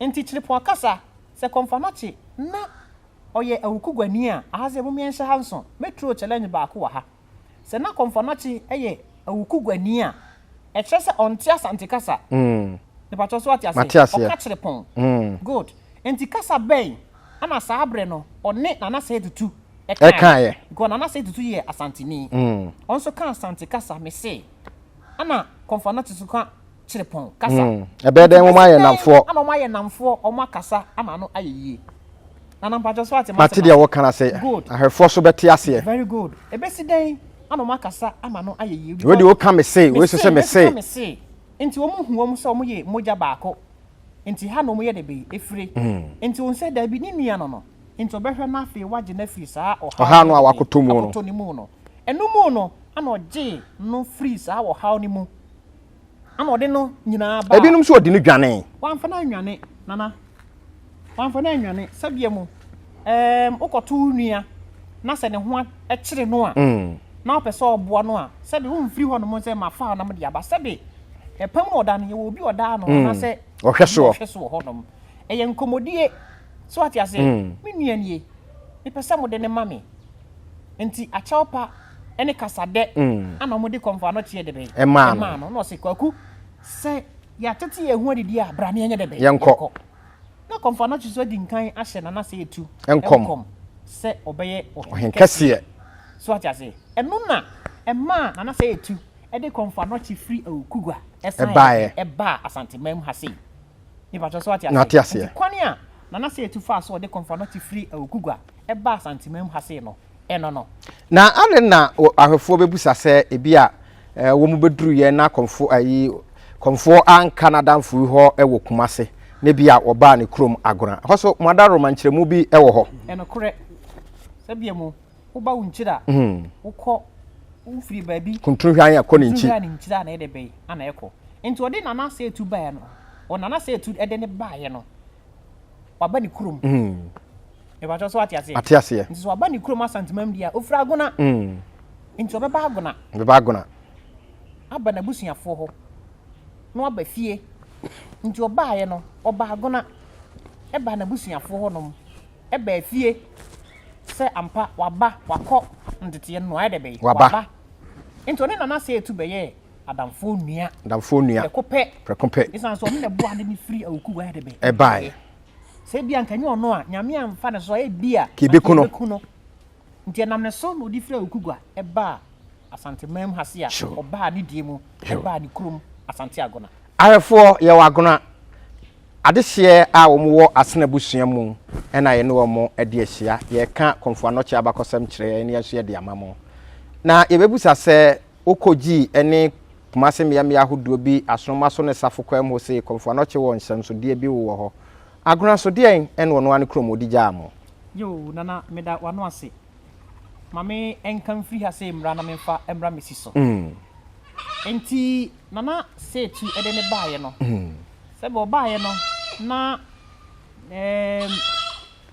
S1: nti kyerepɔn kasa sɛ kɔnfa no kye na ɔyɛ awukuguani a ahasɛ mu mmiɛnhyɛ ha nso metro challenge baako wɔ ha Sɛ na Kɔmfoanakye yɛ awukuguani a, ɛkyerɛ sɛ ɔnte Asante kasa. Mepatwɔ so wate aseɛ? Ɔka kyere pɔn. Good. Nti kasa bɛn ɛna saa berɛ no ɔne Nana Sey Tutu ɛkaeɛ? Because Nana Sey Tutu yɛ Asanteni. Ɔnso ka Asante kasa, mese. Ɛna Kɔmfoanakye nso ka kyerepɔn kasa. Mm. Ɛbɛyɛ dɛn wɔn ayɛ
S2: namfoɔ. Ana wɔn ayɛ namfoɔ,
S1: wɔn akasa ama no ayɛ yie. Nana mpakyɛ so ate mate deɛ wɔka na sɛ
S2: ahwɛfoɔ so bɛte aseɛ. Very good. Ɛbɛsi
S1: dɛn ana wɔn akasa ama no ayɛ yie. Wei deɛ woka me se,
S2: wei so sɛ me se. Me se, nti wɔn hu wɔn sɛ wɔn yɛ mogya baako. Nti ha na wɔn yɛ dɛbɛ efire. Mm. Nti wɔn sɛ daabi ne nua no no. Nti ɔbɛhwɛ no afei wagye no afiri saa ɔhaw. Ɔhaw no a wakoto mu no. Wakoto ne mu no.
S1: Ɛno mu no ana ɔgye no firi saa ɔhaw no mu. Ana ɔde no nyinaa baa. Ebinom nso ɔde no dwanee.
S2: Wamfa no annwane,
S1: Nana. Wamfa no annwane. Sɛdeɛ mu, ɛɛm, wokɔto wo nua na sɛ ne ho kyere no a, na wopɛ sɛ ɔboa no a, sɛbe womfiri hɔnom sɛ mafa na mode aba. Sɛbe ɛpam mu ɔda no, yɛwɔ obi a ɔdaa no anaasɛ ɔhwɛ soɔ. Ɔhwɛ soɔ hɔnom. Ɛyɛ nkɔmmɔdie. So wate aseɛ? Me nua nie. Mepɛ sɛ mode no ma me. Nti akyɛw pa ne kasa dɛ na wɔde kɔmfo anɔkyeɛ de bɛn ɛmaa no. Na ɔse,
S2: Kwaku,
S1: sɛ yɛatete yɛn ho adidi a, bra na yɛnyɛ dɛ bɛn yɛnkɔ.
S2: Na kɔmfo
S1: anɔkye so adi nkan ahyɛ Nana Seitu nkɔm
S2: sɛ ɔbɛyɛ
S1: ɔhenkɛseɛ.
S2: So ate aseɛ?
S1: Ɛno na ɛmaa Nana Seitu de kɔmfo anɔkye firi Awukugua san baa Asanteman mu ha sei. Mepakyɛw sɛ wate aseɛ. Mate aseɛ. Nti kwane a Nana Seitu faa so a ɔde Komfoanokye firi Awukugua baa Asantemanmu ha sei no, ɛno no. Na adɛn
S2: na ahwɛfoɔ bɛbusa sɛ ebia wɔn bɛduruiɛ na Komfo ayi Komfoɔ anka n'adamfoyi hɔ wɔ Kumase na ebia wɔbaa ne kurom Agona? Ɛhɔ so, Moadaworoma nkyerɛmu bi wɔ hɔ. Ɛnokorɛ,
S1: sɛdeɛ mo Woba wo nkyiri a, wokɔ wofiri baabi. Kuntun hwan a kɔ ne nkyi.
S2: Kuntun hwan ne nkyiri a na ɛde bɛyi
S1: ana ɛkɔ. Nti ɔde Nana Asɛɛtu baeɛ no, ɔ Nana Asɛɛtu ɛde ne baeɛ no, waba ne kurom. Mebatwɛ so ate aseɛ. Ate aseɛ. Nti sɛ waba ne kurom Asantemam deɛ a, ofiri Agona. Nti ɔbɛba Agona. Ɔbɛba Agona. Aba n'abusuafoɔ hɔ, na waba fie. Nti ɔbaeɛ no, ɔba Agona, ɛbaa n'abusuafoɔ hɔ nom. Ɛbaa fie sɛ ampa waba wakɔ nteteɛ no ayɛ dɛ bɛyi waba nti ɔne nana sɛ etu bɛyɛɛ adamfoɔ nua adamfoɔ nua prɛko pɛ
S2: prɛko pɛ esan so ɔno na
S1: ɛboa de ne firi awuku wɔ ayɛ dɛ bɛyi ɛbaeɛ
S2: sɛ ebi a nka
S1: nyɛ ɔno a nyame anfa ne so a ebi a kebeku no kebeku no
S2: nti
S1: ɛnam ne so na ɔde firi awuku gua ɛbaa asante man mu ha se a ɔbaa ne die mu ɛbaa ne kurom asante agona Awerɛfoɔ yɛ wɔ
S2: Agona adehyeɛ a wɔn wɔ Asene abusua mu na yɛne wɔn adi ahyia. Yɛreka Komfo Anokye abakɔsɛm kyerɛ yɛn na yɛn nso yɛde ama mo. Na yɛbɛbusa sɛ wokɔgyii ɛne Kumase mmea mmea ahodoɔ bi asonomoa so ne safo kwan mu hɔ sei Komfo Anokye wɔ nhyɛnsodeɛ bi wowɔ hɔ Agona nso deɛn ɛne ɔno ara ne kurom ɔdi gyaa mo. Yoo Nana
S1: meda w'ano ase. Ma me nka mfiri ha sei mmra na memfa mmra me si so. Enti Na na Setu de no baeɛ no, sɛdeɛ ɔbaeɛ no na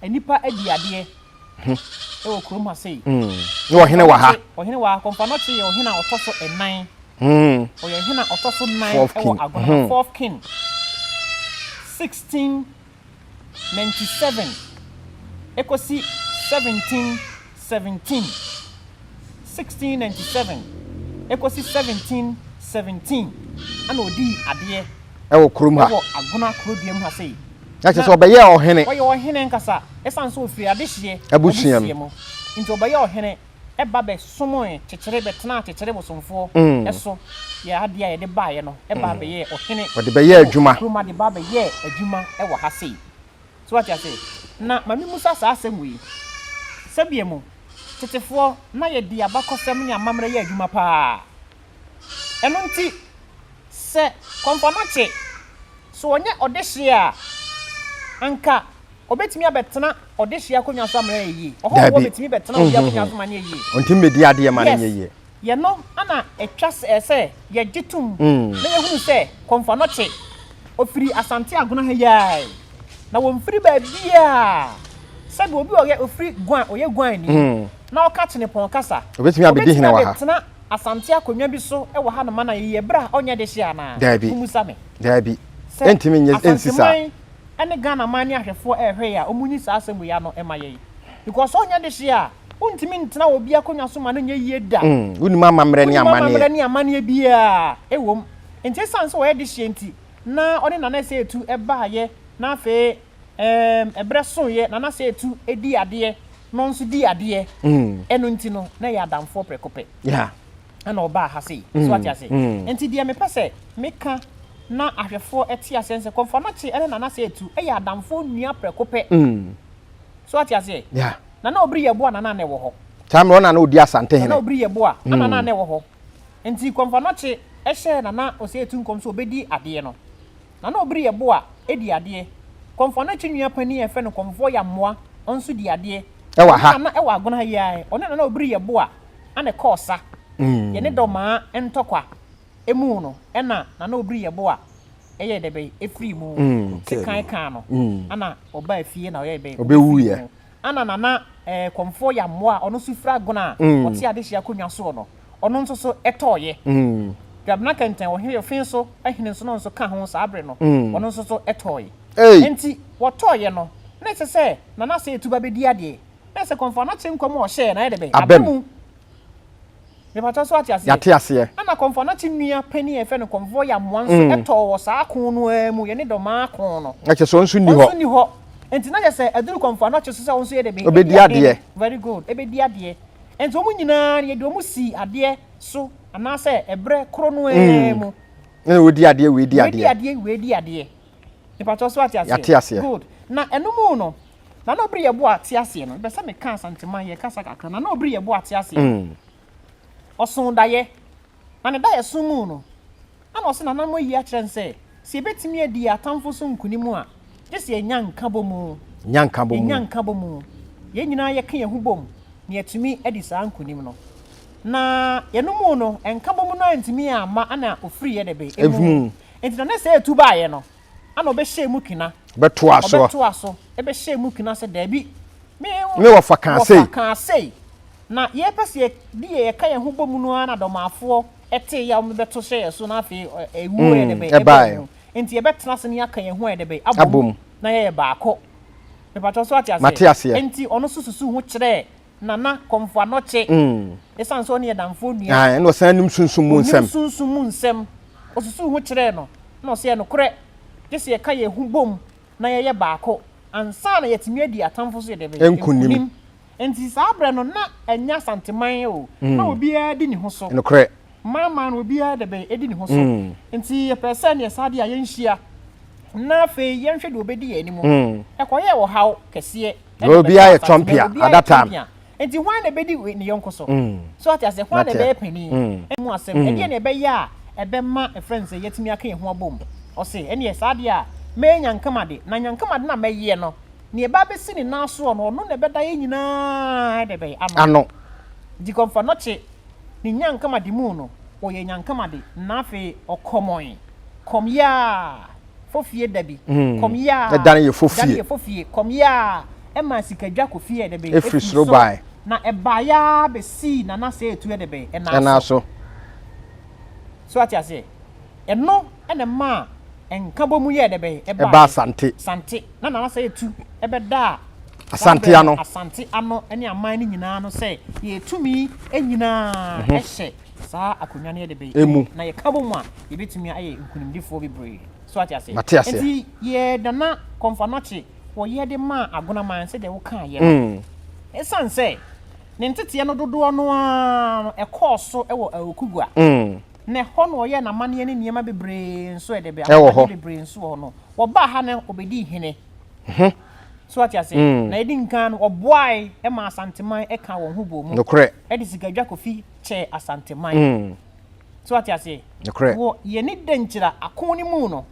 S1: nnipa adi adeɛ wɔ kurom ha sei. Na ɔhene wɔ
S2: ha. Ɔhene wɔ ha. Kɔmpanɔkye
S1: yɛ ɔhene a ɔtɔ so nnan. Ɔyɛ ɔhene a ɔtɔ so nnan wɔ Agona, fourth king, sixteen ninety seven ekosi seventeen seventeen, sixteen ninety seven ekosi seventeen seventeen ɛna odii adeɛ ɛwɔ kurom ha
S2: ɛwɔ Agona kurodua mu ha
S1: sei. Na kyerɛ sɛ ɔbɛyɛɛ
S2: ɔhene. Ɔyɛ ɔhene nkasa
S1: ɛsan so ofiri adehyeɛ abusua mu
S2: nti ɔbɛyɛ
S1: ɔhene. ba bɛsomee kyekyere bɛtenaa kyekyere bosomfoɔ so yɛ adeɛ a yɛde baeɛ no baa bɛyɛɛ ɔhene wɔ
S2: kurom ha de baa bɛyɛɛ
S1: adwuma wɔ ha sei so wate ase na ma memusa saa asɛm wei sɛdeɛ mu tetefoɔ na yɛde abakɔsɛm ne amammerɛ yɛ adwuma paa ɛno nti sɛ Kɔmfɔnakye so ɔnyɛ ɔdehyeɛ a anka Obetumi abɛtena ɔdehye akonnwa so ama no ayɛ yie. Ɔhɔho Daabi. betumi bɛtena obi akonnwa so ma no ayɛ yie. Ɔntumi mmedi adeɛ ma no
S2: nyɛ Yes. yie. Yɛno na
S1: ɛtwa sɛ ɛsɛ sɛ yɛgye tom na yɛhunu sɛ Kɔmfo Anokye, ɔfiri Asante Agona ha yi ara yi, na wɔmfiri baabiara sɛdeɛ obi a ɔyɛ ɔfiri Guan, ɔyɛ Guanni na ɔka Chenepɔn kasa. Ɔbɛtumi abɛdi hene wɔ ha.
S2: abɛtena Asante
S1: akonnwa bi so wɔ hanom ma no ayɛ yie berɛ a ɔnyɛ dehye anaa? Daabi. Mommisa me.
S2: Daabi. Sɛ Ɛntumi nyɛ ɛnsi saa. Asanteman ɛne Ghana
S1: man ne ahwɛfoɔ ɛrehwɛɛ a wɔnyi saa asɛm wei ano mma yɛn because sɛ ɔnyɛ dehye a wontumi ntena obi akonnwa so ma no nyɛ yie da. Mm, wonim amammerɛ ne
S2: amanneɛ. Wonim amammerɛ ne amanneɛ biara
S1: ɛwom. Nti ɛsiane sɛ ɔyɛ dehyeɛ nti na ɔne Nana Ɛsɛ Etu baeɛ na afei ɛɛm ɛberɛ soeɛ Nana Ɛsɛ Etu dii adeɛ na ɔno nso dii adeɛ, ɛno nti no na yɛyɛ adamfoɔ prɛko pɛ. Yeah.
S2: na ɔbaa ha
S1: sei. So wate ase? Enti deɛ mepɛ sɛ meka na ahwɛfoɔ te aseɛ ne sɛ, Kɔmfoanɔkye ne Nana Seitu yɛ adamfoɔ nua prɛko pɛ. So wate aseɛ? Nana Obiri
S2: Yeboah na
S1: na na ɛwɔ hɔ. Saa mmerɛ ɔna na ɔdi
S2: Asante hene. Nana Obiri Yeboah
S1: na
S2: na
S1: na ɛwɔ hɔ. Enti Kɔmfoanɔkye hyɛɛ Nana Oseitu nkɔm sɛ ɔbɛdi adeɛ no. Na na ɔbiri yɛ bo a ɛdi adeɛ. Kɔmfoɔ no akyi nua panin a yɛfrɛ no Kɔmfoɔ Yammoa nso di adeɛ. Ɛwɔ ha. Ɔno na na ɛwɔ
S2: Agono ha yi ara ɛ.
S1: Ɔne Nana Obiri yɛ bo a na ne kɔɔ sa. Yɛne Dɔmaa ntɔkwa mu no na Nana Obiri yɛ bo a ɛyɛɛ dɛbɛn ɛfirii mu. Ɛkae kaa no na ɔbaa fie na ɔyɛɛ dɛbɛn? Ɔbɛwuiɛ.
S2: Ana na na
S1: ɛkɔmfoɔ yammoa a ɔno nso fira gona a ɔte adehyeɛ akonnwa soɔ no, ɔno nso so tɔeɛ. Dwabena kɛntɛn ɔhene Yɔfee so hene nso no nso ka ho saa berɛ no, ɔno nso so tɔeɛ. Enti wɔtɔeɛ no, na ɛsɛ sɛ Nana Seetuba bɛdi adeɛ. Na ɛsɛ kɔmfoɔ a na Kyenkwa mu a ɔhyɛɛ na ayɛ dɛ bɛ, aba mu. Mepatɔ so wate aseɛ? Yɛate aseɛ. Ɛna kɔmfoɔ
S2: no ate nua
S1: panin a yɛfrɛ no kɔmfoɔ yamoa nso mm. ɛtɔɔ wɔ saa ko no ara mu yɛne dɔmaa ko no. Ɛkyɛ sɛ ɔnso nni hɔ. Ɔnso nni
S2: hɔ. Nti na kyɛ sɛ
S1: aduru kɔmfoɔ ano kyɛ so sɛ ɔnso yɛ dɛ bɛ. Obedi adeɛ. Very
S2: good. Ebedi
S1: adeɛ. Nti wɔn nyinaa yɛde wɔn si adeɛ so anaasɛ ɛbrɛ koro no ara mm. mu. Ɛna wɔdi
S2: adeɛ wei di adeɛ. Wei di adeɛ wei di adeɛ.
S1: Mepatɔ so ate aseɛ. Yɛate aseɛ. Good. Na
S2: ɛno mu
S1: no. Nana Obiri yɛ boa te aseɛ no bɛ sɛ meka asantema yɛ kasa kakra Nana Obiri yɛ boa te aseɛ no mm. ɔso dayɛ na ne dayɛ so mu no ɛna ɔsɛ nana mo yi akyerɛ n sɛ sɛ yɛbɛtumi adi yɛ atamfo so nkunim a gye sɛ yɛnya nka bɔ mu nya nka bɔ mu yɛnya nka bɔ mu yɛn nyinaa yɛka yɛn ho bom na yɛatumi adi saa nkunim no na yɛno mu no nka bɔ mu no antumi amma ana ofiri yɛ dɛbɛ ɛmu nti na ne sɛ ɛtu baeɛ no Ana ɔbɛhyɛɛ mu kena. Bɛtoaa soɔ. Ɔbɛtoaa
S2: so, ɛbɛhyɛɛ mu kena
S1: sɛ, Daabi, me ho. Ne wɔfa
S2: kaa sei. Wɔfa kaa sei. Na yɛpɛ
S1: sɛ yɛdi yɛ yɛka yɛn ho bɔ mu no ara na dɔmaafoɔ tee yaw no bɛto hyɛɛ yɛn so na afei ɛwuo yɛ dɛbɛn ɛbaa yɛn ho. Enti yɛbɛtena ase na yɛaka yɛn ho ayɛ dɛbɛn abom na yɛyɛ baako. Mepakyɛw so ate aseɛ? Mate aseɛ. Enti ɔno nso susuu ho kyerɛɛ Nana Komfo Anokye, esiane sɛ ɔne yɛn Damfoɔ nua. Ae, ɛna ɔsan nim sunsum
S2: mu nsɛm. Ɔnim sunsum mu nsɛm.
S1: Ɔsusuu ho kyerɛɛ no, ɛna ɔseɛ, Nokorɛ, gye sɛ yɛka yɛn ho bom na yɛyɛ baako ansa na yɛatumi adi atamfo so deɛ bɛyɛ, nkonim.
S2: Enti saa
S1: berɛ no, na ɛnyɛ Asanteman o, na obiara di ne ho so. Nokorɛ. Maamaa
S2: no, obiara
S1: deɛ bɛyɛ, ɛdi ne ho so. Enti yɛpɛɛ sɛ neɛ saa deɛ a yɛnhyia, na afei yɛnhwɛ deɛ ɔbɛdi yɛn anim. Ɛkɔyɛɛ ɔhaw kɛseɛ. na obiara yɛ
S2: tɔmpia at that time nti hwan na ɛbɛdi
S1: ne yɔnko so mm. so ate ase hwan na ɛbɛyɛ panin mm. ɛmu asɛm mm. ɛdeɛ na ɛbɛyɛ a ɛbɛma ɛfrɛ no sɛ yɛatumi aka yɛn ho abom ɔse ɛneɛ saa deɛ a mɛyɛ nyankamade na nyankamade na mɛyɛ no neɛ ɛbɛ abɛsi ne nan soɔ no ɔno na ɛbɛda yɛ nyinaa ɛde bɛyɛ ano nti kɔmfa nɔkye ne nyankamade mu no ɔyɛ nyankamade na afei ɔkɔmɔn kɔmyɛ a fɔ fie da bi, kɔm yɛ a, dan yɛ fɔ fie,
S2: fɔ fie, kɔm yɛ a,
S1: ɛmaa sika dwa kɔ fie ɛdɛ bɛ, ɛfiri soro bae,
S2: na ɛbaa yɛ
S1: a bɛ sii nana sɛ etu ɛdɛ bɛ, ɛnaa so. So ate aseɛ? Ɛno ɛna ɛmaa nkabɔ mu yɛ ɛdɛ bɛ, ɛbaa asante,
S2: sante, na nana sɛ etu
S1: ɛbɛ da a, asante ano,
S2: asante ano
S1: ɛne aman no nyinaa no sɛ yɛ tumi nyinaa ɛhyɛ. Saa akonnwa no yɛ de bɛn emu, na yɛka bɔ mu a, yɛbɛtumi ayɛ nkunimdifoɔ bebree. So ate aseɛ? Mate aseɛ. Enti yɛdana kɔmfanɔkye wɔ yɛ de ma agonaman sɛdeɛ wo kaa yɛ no. Ɛsiane sɛ ne nteteɛ no dodoɔ no ara no ɛkɔɔ so wɔ Aokigua, na ɛhɔ na ɔyɛɛ n'amanneɛ ne nneɛma bebree nso yɛ de bɛn ahobadeɛ bebree nso wɔ hɔ no, wɔbaa ha na ɔbɛdii hene. So ate aseɛ? Na ɛdi nkan no ɔboae ma Asanteman kaa wɔn ho bɔɔ mu de sika
S2: dwa kɔfi.
S1: kyɛɛ Asanteman. Mm. So wate aseɛ? Nokorɛ. Wɔ yɛne
S2: Dankyira
S1: ako no mu no,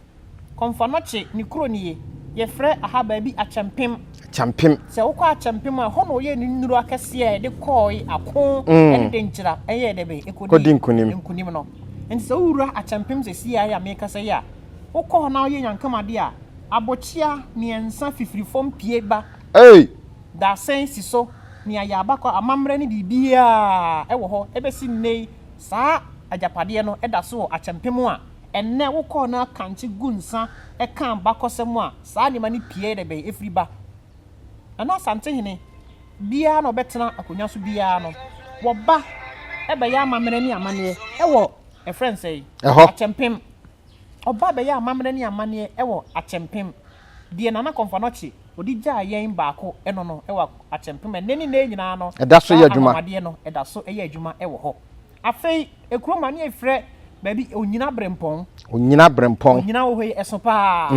S1: Kɔmfanɔkye ne kuro nie, yɛfrɛ aha baabi Akyɛmpem. Akyɛmpem. Sɛ wokɔ Akyɛmpem a, ɛhɔ na wɔyɛɛ ne nnuro akɛseɛ a yɛde kɔɔe ako Mm. ne Dankyira ɛyɛɛ dɛ bɛn? Ɛkɔdi Kɔdi nkunim. nkunim no. Nti sɛ wowura Akyɛmpem sɛsie a ɛyɛ a meekasa yi a, wokɔ hɔ na woyɛ nyankamade a, abokyea mmiɛnsa fifiri fam pue ba. Ei! Dadesɛn si so, nea yɛ abakɔ amammerɛ ne biribiara wɔ hɔ bɛsi nnɛ yi, saa agyapadeɛ no da so wɔ akyɛmpem a ɛnnɛ wokɔɔ na kankye gu nsa ka abakɔsɛm a saa nneɛma no pieɛ da bɛn ɛfiri ba. Nana Asantehene biara na ɔbɛtena akonnwa so biara no, wɔba bɛyɛ amammerɛ ne amanneɛ wɔ ɛfrɛ no sɛn? Ɛhɔ. Akyɛmpem. Ɔbaa bɛyɛɛ amammerɛ ne amanneɛ wɔ Akyɛmpem. Deɛ Nana Komfo Anokye ɔde gyaa yɛn baako no no wɔ Akyɛmpem ɛnnɛ ne nnɛɛ nyinaa no saa anwanwadeɛ
S2: no da so yɛ
S1: adwuma wɔ hɔ. Afei kuro mu a ne yɛfrɛ baabi Onyina Brempɔn. Onyina Brempɔn. Onyina wɔ hɔ yi ɛso paa.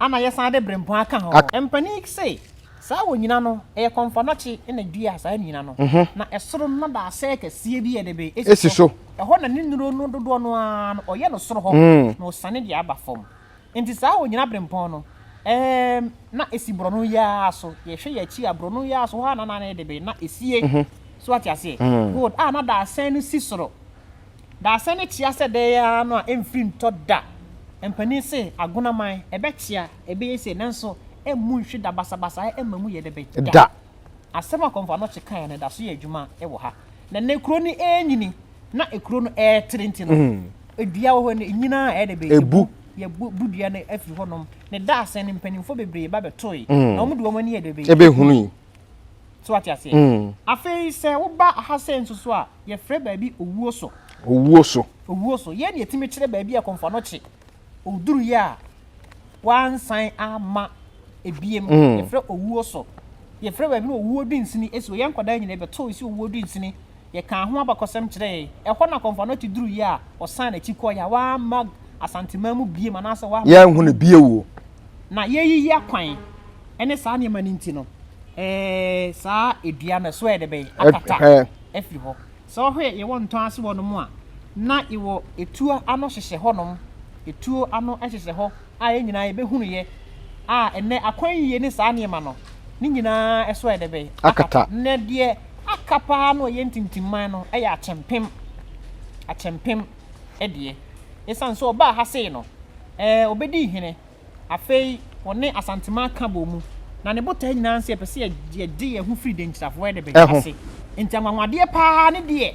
S1: ana yɛsan de berempɔn aka ho? Mpanin yi se, saa wɔ nyina no, ɛyɛ kɔmfɔnɔkye na ɛdua saa nyina no, na ɛsoro no da asɛɛ kɛseɛ bi a ɛde be si so, ɛhɔ
S2: na ne nnuro
S1: no dodoɔ no ara no ɔyɛ no soro hɔ na ɔsane de aba fam. Nti saa wɔ nyina berempɔn no, ɛɛm, na ɛsi borɔno yi ara so, yɛhwɛ yɛn akyi a, borɔno yi ara so hɔ ara na na ɛde be na ɛsie. So ate aseɛ? Good. A na da asɛɛ no si soro. Daasɛ no kyea sɛ dɛɛ ara no a ɛmfiri ntɔ da. Mpanin se agonaman, ɛbɛkyea, ɛbɛyɛ sei, nanso ɛmmu nhwe da, basabasayɛ ɛmma mu yɛ dɛ bɛ da. Asɛm a Kɔmfo Anokye kaeɛ no da so yɛ adwuma wɔ ha. Na nnɛ kuro no renyini na ekuro no retere nti no, dua wɔ hɔ no, ɛnyini ara a ɛyɛ dɛ bɛ ɛbu. Yɛabu
S2: dua
S1: no afiri hɔnom. Ne daasɛ no, mpanimfoɔ bebree ba bɛtoe, na wɔde wɔn ani yɛ dɛ bɛ. Ɛbɛhunui.
S2: So wate
S1: aseɛ? Afei sɛ woba ha sɛ nso so a, yɛfrɛ baabi owuo so. Owuo so. Owuo so. Yei na yɛtumi kyerɛ baabi a kɔmfoɔ no kye. Ɔduruyɛ a, wansan ama ebiem. Yɛfrɛ owuo so. Yɛfrɛ baabi no owuo dunsini. Ɛsi wɔ yɛn nkwadaa nyinaa bɛtɔ ɛsi owuo dunsini. Yɛkaa ho abakɔsɛm kyerɛɛ yɛn. Ɛhɔ na akɔmfo Anokye duruiɛ a ɔsan n'akyi kɔeɛ a wamma Asanteman mu biom anaasɛ wamma yɛn ho no bio o.
S2: Na yɛreyiyi
S1: akwan ne saa nneɛma no nti no, saa dua no ɛso ayɛ dɛ bɛn, akata afiri hɔ. Sɛ wohwɛ yɛwɔ Ntɔn ase hɔnom a, na yɛwɔ etuo ano hyehyɛ hɔnom, etuo ano hyehyɛ hɔ. a yɛn nyinaa yɛbɛhunuiɛ a ɛnnɛ akwan yie ne saa nneɛma no ne nyinaa so ayɛ dɛ bɛn? Akata. Na deɛ aka paa no ɛyɛ ntintimman no ɛyɛ akyɛmpem. Akyɛmpem deɛ ɛsiane sɛ ɔbaa ha sei no ɛɛ ɔbɛdii hene afei ɔne Asanteman ka bɔɔ mu na ne botaeɛ nyinaa sɛ yɛpɛ sɛ yɛgye yɛn ho firi Denkyirafoɔ ɛdɛ bɛn? Ase. Nti anwanwadeɛ paa ne deɛ.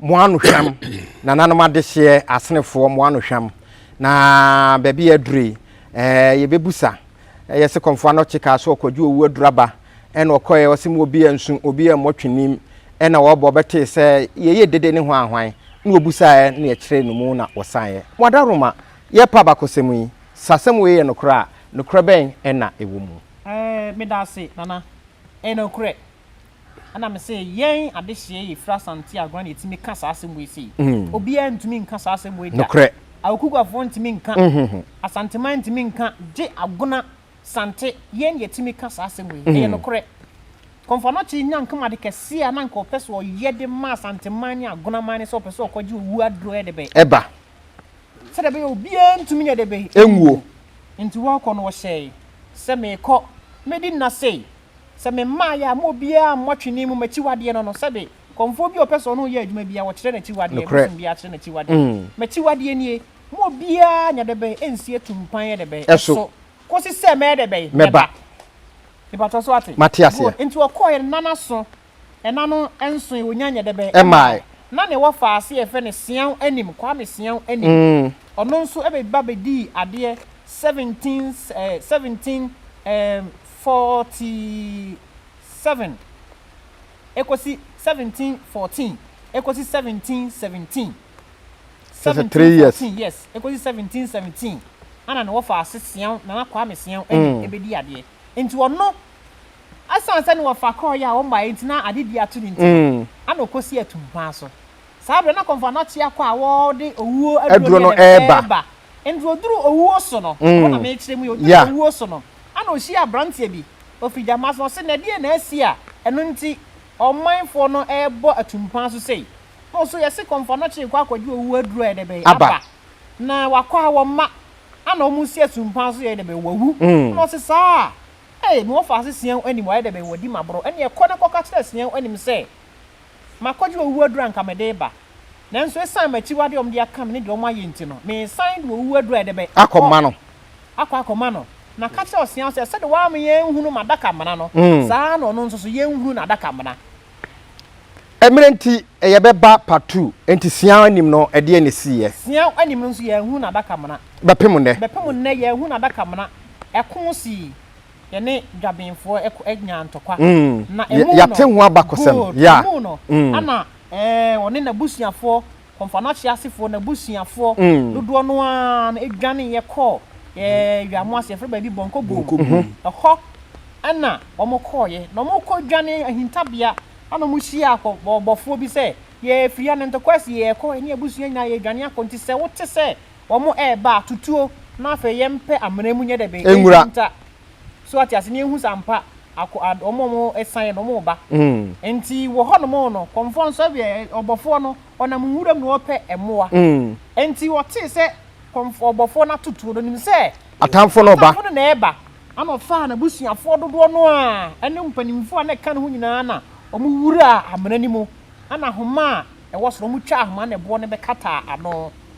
S2: mo ano hwam nananom adehyeɛ asenefoɔ mo ano hwam na baabi yɛ aduro yi ɛɛ yɛbɛbusa ɛyɛ se kɔnfoɔ ano kye kaa so ɔkɔgye owu aduraba ɛna ɔkɔɛ ɔse mu obi yɛ nsu obi yɛ mmɔ twenim ɛna wɔbɔ bɛtee sɛ yɛyɛ dede ne ho ahwan na wɔbusaeɛ na yɛkyerɛ no mu na wɔsaneɛ mo adaroma yɛ pa bakɔsɛm yi sɛ asɛm wei yɛ nokorɛ a nokorɛ bɛn ɛna ɛwɔ mu. Ɛɛ meda ase
S1: nana ɛyɛ nokorɛ Ɛna me se yɛn adehyeɛ yɛ firi Asante Agona na yɛtumi ka saa asɛm wei sei. Obiara ntumi nka saa asɛm wei da. Nokorɛ. Aokuguafoɔ
S2: ntumi
S1: nka, Asanteman ntumi nka, gye Agona, Sante, yɛn na yɛtumi ka saa asɛm wei. Ɛyɛ nokorɛ. Kɔmfanokyee nya nka mu ade kɛseɛ a na nka ɔpɛ sɛ ɔyɛ de ma Asanteman ne Agonaman ne sɛ ɔpɛ sɛ ɔkɔgye owuo aduro yɛ de bɛ. Ɛba.
S2: Sɛdeɛ
S1: ɛbɛyɛ a obiara ntumi yɛ de bɛ. Ɛnwuo.
S2: Nti wɔrekɔ
S1: no wɔhyɛɛ sɛ merekɔ mɛdi nna sei Sɛ me mmaeɛ a, mo obiara mmɔ atwene mu m'akyiwadeɛ no no, sɛde kɔmfoɔ bi a ɔpɛ sɛ ɔne wo yɛ adwuma biara, ɔkyerɛ n'akyiwadeɛ, Nokorɛ. bosom biara kyerɛ n'akyiwadeɛ. Mm. M'akyiwadeɛ nie, mo obiara nyɛ dɛbɛn nsi atumpan yɛ dɛbɛn Ɛso. ɛso, kɔsi
S2: sɛ mɛyɛ
S1: dɛbɛn? Mɛba. Mɛba.
S2: Mepakyɛw,
S1: so woate? Mate aseɛ. Good. Enti ɔkɔeɛ
S2: no, na n'aso
S1: Ɛna no nsoe wonya nyɛ dɛ bɛ ɛmae. Na nea
S2: wɔfaa aseɛ
S1: yɛfrɛ no Seau Anim, Kwame Seau Anim. Ɔno nso ɛbɛba bɛdii adeɛ 17 eh 17 eh 47 ɛkɔsi 1714 ɛkɔsi 1717. Kyerɛ sɛ three
S2: years. 1714 yes ɛkɔsi 1717
S1: ɛna na wɔfaa ase Seau Nana Kwame Seau Anim ɛbɛdii adeɛ. Ntsi ɔno, osian sɛ ne wɔfa kɔr yɛ a ɔmmbae ntsi na adze bi ato ne ntsi no, ana okosii etumpan so. Saa aber no, nna Kɔmfo Anɔkyea kɔ a wɔdze owuo aduro no reba. Mbrɛ odur owuo so no, hɔ na merekyerɛ mu yi, odur owuo so no, ana ohyiaa aberantsɛ bi, ofir Gyama, na ɔse, Na deɛn na asi a ɛno ntsi ɔmanfoɔ no rebɔ atumpan so sei? Na ɔse, Yɛse Kɔmfo Anɔkyea rekɔ akɔgye owuo aduro a yɛde bɛyɛ aba. na wakɔ ha wɔ mma ana wɔn nsi asu mpan so yɛ dɛ bɛyɛ wawu mm. na ɔsi saa ee na wɔfa ase sian anim wayɛ dɛ bɛyɛ wɔdi ma borɔ ɛne ɛkɔ ne kɔka kyerɛ sian anim sɛ makɔgye owu adura nka mede ba nanso esan m'akyiwade wɔn de aka me ne deɛ wɔn ayɛ nti no mesan de owu adura ɛdɛ bɛ akɔma no akɔ akɔma no na ka kyerɛ ɔsian sɛ sɛde wɔama yɛn nhunu m'adaka mmena no mm. saa na ɔno nso so yɛn nhunu n'adaka mmena. Mmerɛ nti
S2: yɛ bɛ ba part two nti siaa anim no ɛdeɛ na ɛsii yɛ. Siaa anim no nso yɛ
S1: nhunu adaka mena. Bɛpem nnɛ. Bɛpem
S2: nnɛ yɛ nhunu adaka mena
S1: ɛko sii yɛ ne dwabenfoɔ ɛko nyaa ntɔkwa na ɛmu no. Yate ho abakɔsɛm.
S2: Good. Ɛmu no
S1: ɛna ɛɛ ɔne nabusuafoɔ Kɔmfoanoakye asefoɔ no abusuafoɔ dodoɔ no ara no dwaneeɛ kɔɔ Yamoase, yɛfrɛ baabi Bɔnkɔ Boom, ɛhɔ na wɔkɔeɛ, na wɔkɔdwanee ahintabea, ɛna wɔhyiaa akɔbɔfoɔ bi sɛ, Yɛfiri Anantɔkwasi, yɛrekɔ, yɛne abusua nyinaa yɛredwane akɔ, nti sɛ wote sɛ wɔreba a, tutuo, na afei yɛmpɛ amena mu nyɛ dɛ bɛn, ɛnhinta. So wate ase? Na ehu sɛ ampa ako ad wɔn a wɔresan no wɔreba. Nti wɔ hɔnom no, kɔmfoɔ no sɔre ɛ ɔbɔfoɔ no ɔnam nwuram na ɔrepɛ mmoa. Nti ɔtee sɛ kɔmfoɔ ɔbɔfoɔ no ato tuo no, ɔnim sɛ atamfoɔ no reba. Atamfoɔ
S2: no na ɛreba. Ɛnna
S1: ɔfaa n'abusuafoɔ dodoɔ no ara ne mpanimfoɔ a na ɛka ne ho nyinaa na wɔwuraa amena no mu. Ɛnna ahoma a ɛwɔ soro no, wɔtwaa ahoma no na ɛboɔ no bɛkataa ano.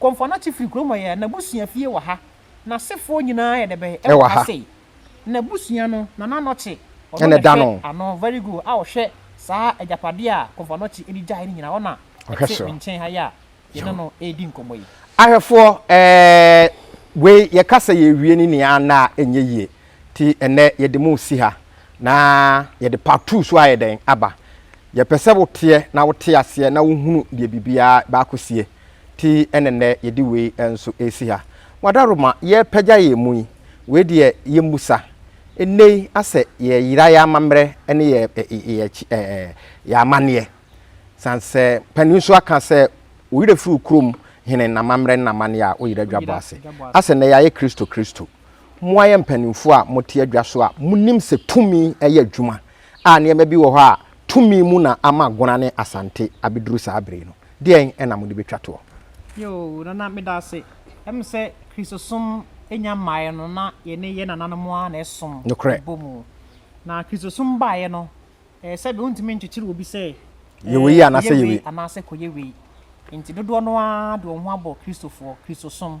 S1: Komfo-Anokye firi kurom hɔ yɛ n'abusua fie wɔ ha. N'asefoɔ nyinaa yɛ dɛ bɛn wɔ ha sei? N'abusua no, Nana Anokye, ɔno na ɛhwɛ
S2: ano, very good, a
S1: ɔhwɛ saa agyapadeɛ a Komfo-Anokye de gyaeɛ no nyinaa, ɔna ɛte me nkyɛn ha yi a yɛne no redi nkɔmmɔ yi. Ahwɛfoɔ,
S2: ɛɛ, wei yɛka sɛ yɛrewie ne nea anna a ɛnyɛ yie. Nti ɛnnɛ yɛde mo resi ha, na yɛde part two nso ayɛ dɛn? aba. Yɛpɛ sɛ woteɛ na wote aseɛ na wohunu deɛ biribiara bɛakɔsie. Nti ɛna nnɛ yɛde wei nso resi ha. Wadaroma, yɛrepagya yɛn mu yi, wei deɛ yɛmmisa. Nnɛ yi asɛ yɛreyera yɛn amammerɛ ne yɛ yɛ ɛɛ yɛn amanneɛ. Sane sɛ panin nso aka sɛ, Wo werɛ firi wo kurom hene n'amammerɛ ne n'amanneɛ a woyera dwabɔ ase. Asɛ nnɛ yɛayɛ Kristo Kristo. Mo a ɛyɛ mpanimfoɔ a mote adwa so a monim sɛ tumi yɛ adwuma a nneɛma bi wɔ hɔ a tumi mu na ama Agona ne Asante abɛduru saa bere yi no, deɛn na mode bɛtwa toɔ? Yoo Nana
S1: meda ase. Ɛm sɛ Kristosom nnya mmaeɛ no na yɛne yɛn nananom ara na ɛsom Nokorɛ. bɔ mu. Na Kristosom baeɛ no ɛɛ sɛbe wontumi nkyekyere obi sɛ Yɛ wei ɛɛ anaa
S2: sɛ kɔyɛ yɛ wei wei. anaasɛ kɔyɛ wei.
S1: Nti dodoɔ no ara de wɔn ho abɔ Kristofoɔ, Kristosom,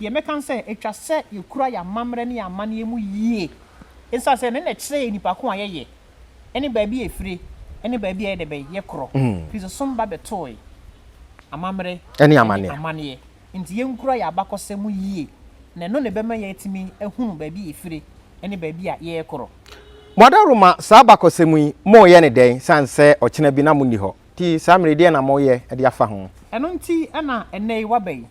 S1: Deɛ mɛka ne sɛ, ɛtwa sɛ yɛkura yɛn amammerɛ ne yɛn amanneɛ mu yie ɛsiane sɛ ɛno na ɛkyerɛ yɛn nnipa ko a yɛyɛ ne baabi a ɛfire ne baabi a yɛdɛ bɛn, yɛkorɔ. Kristosom ba bɛtooe amammerɛ ne amanneɛ
S2: nti yɛnkura
S1: yɛn abakɔsɛm mu yie na ɛno na ɛbɛma yɛatumi ahunu baabi a yɛfire ne baabi a yɛrekorɔ. Moadaworoma
S2: saa abakɔsɛm yi, moreyɛ no dɛn sane sɛ ɔkyena bi na monni hɔ? Nti saa mmerɛ yi, deɛn na moreyɛ de afa ho? Ɛno nti na
S1: ɛnnɛ yi woaba yi.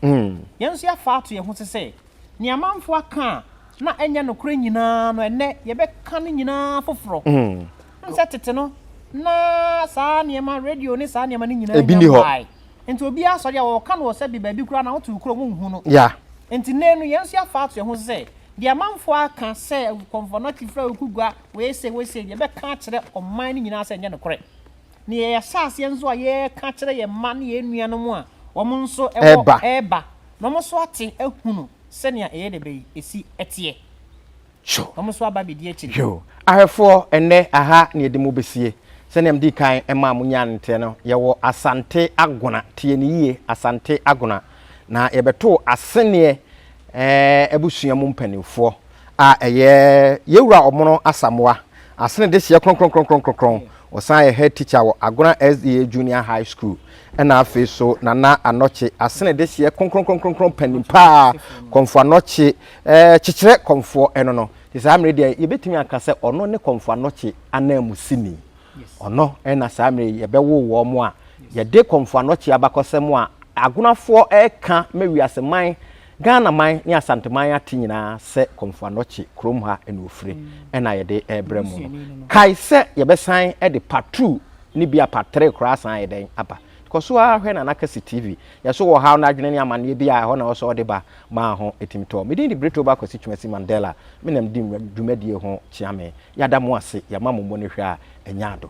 S1: Yɛn nso yɛafa ato yɛn ho so sɛ, nea amanfoɔ aka a na ɛnyɛ nokorɛ nyinaa no, ɛnnɛ yɛbɛka ne nyinaa foforɔ. Wonim sɛ tete no, na saa nneɛma, radio ne saa nneɛma no nyinaa nnya mmaeɛ.
S2: Nti obiara
S1: sɔre a, wɔka no wɔ sɛbe baabi koraa na wote wo kurom wonhu no. Nti nnɛ
S2: no, yɛn
S1: nso yɛafa ato yɛn ho so sɛ, deɛ amanfoɔ aka sɛ Komfo Anokye Firawo Kugua wei sei, wei sei, yɛbɛka akyerɛ ɔman no nyinaa sɛ ɛnyɛ nokorɛ. Nea yɛahyɛ aseɛ nso a yɛreka akyerɛ yɛn mma ne yɛn nuanom a wɔn nso wɔ reba na wɔn nso ate ahunu sɛnea ɛyɛ dɛ bɛyi ɛsi teɛ na wɔn
S2: nso aba abɛdi
S1: akyire. Ahwɛfoɔ,
S2: ɛnnɛ aha na yɛde mo bɛsie. Sɛnea medii kan maa monyaa no nteɛ no, yɛwɔ Asante Agona, tie no yie, Asante Agona, na yɛbɛtoo aseneɛ abusua mu mpanimfoɔ a ɛyɛ Yɛwura Ɔmono Asamoa, asene dehyeɛ kronkronkronkron, ɔsan yɛ head teacher wɔ Agona SDA Junior High School, ɛna afei so Nana Anɔkye, asene dehyeɛ kronkronkronkron panin paa, Kɔmfo Anɔkye, kyekyerɛ kɔmfoɔ ɛno no, te saa mmerɛ deɛ yɛbɛtumi aka sɛ ɔno ne Kɔmfo Anɔkye ananmusini. Ɔno na saa mmerɛ yi yɛbɛwo wɔn a yɛde kɔ mfoano kye abakɔsɛm a agonafoɔ reka ma wiase man, Ghana man ne Asanteman ate nyinaa sɛ kɔ mfoano kye kurom ha na wɔfire na yɛde rebrɛ mo no. Kae sɛ yɛbɛsan de part two ne bi a part three koraa asan ayɛ dɛn aba. Kɔ so ara hwɛ Nana Kasi TV. Yɛn nso wɔ ha, wo no adwene ne amanneɛ bi a ɛhɔ na ɛwɔ sɛ wɔde ba. Maa ho etumi tɔɔ. Me din de Britoba Kwasi Twumasi Mandela. Me na medi dwumadie ho kyeame. Yada mo ase. Yɛma mo mmɔ no hwɛ a, ɛnyɛ ado.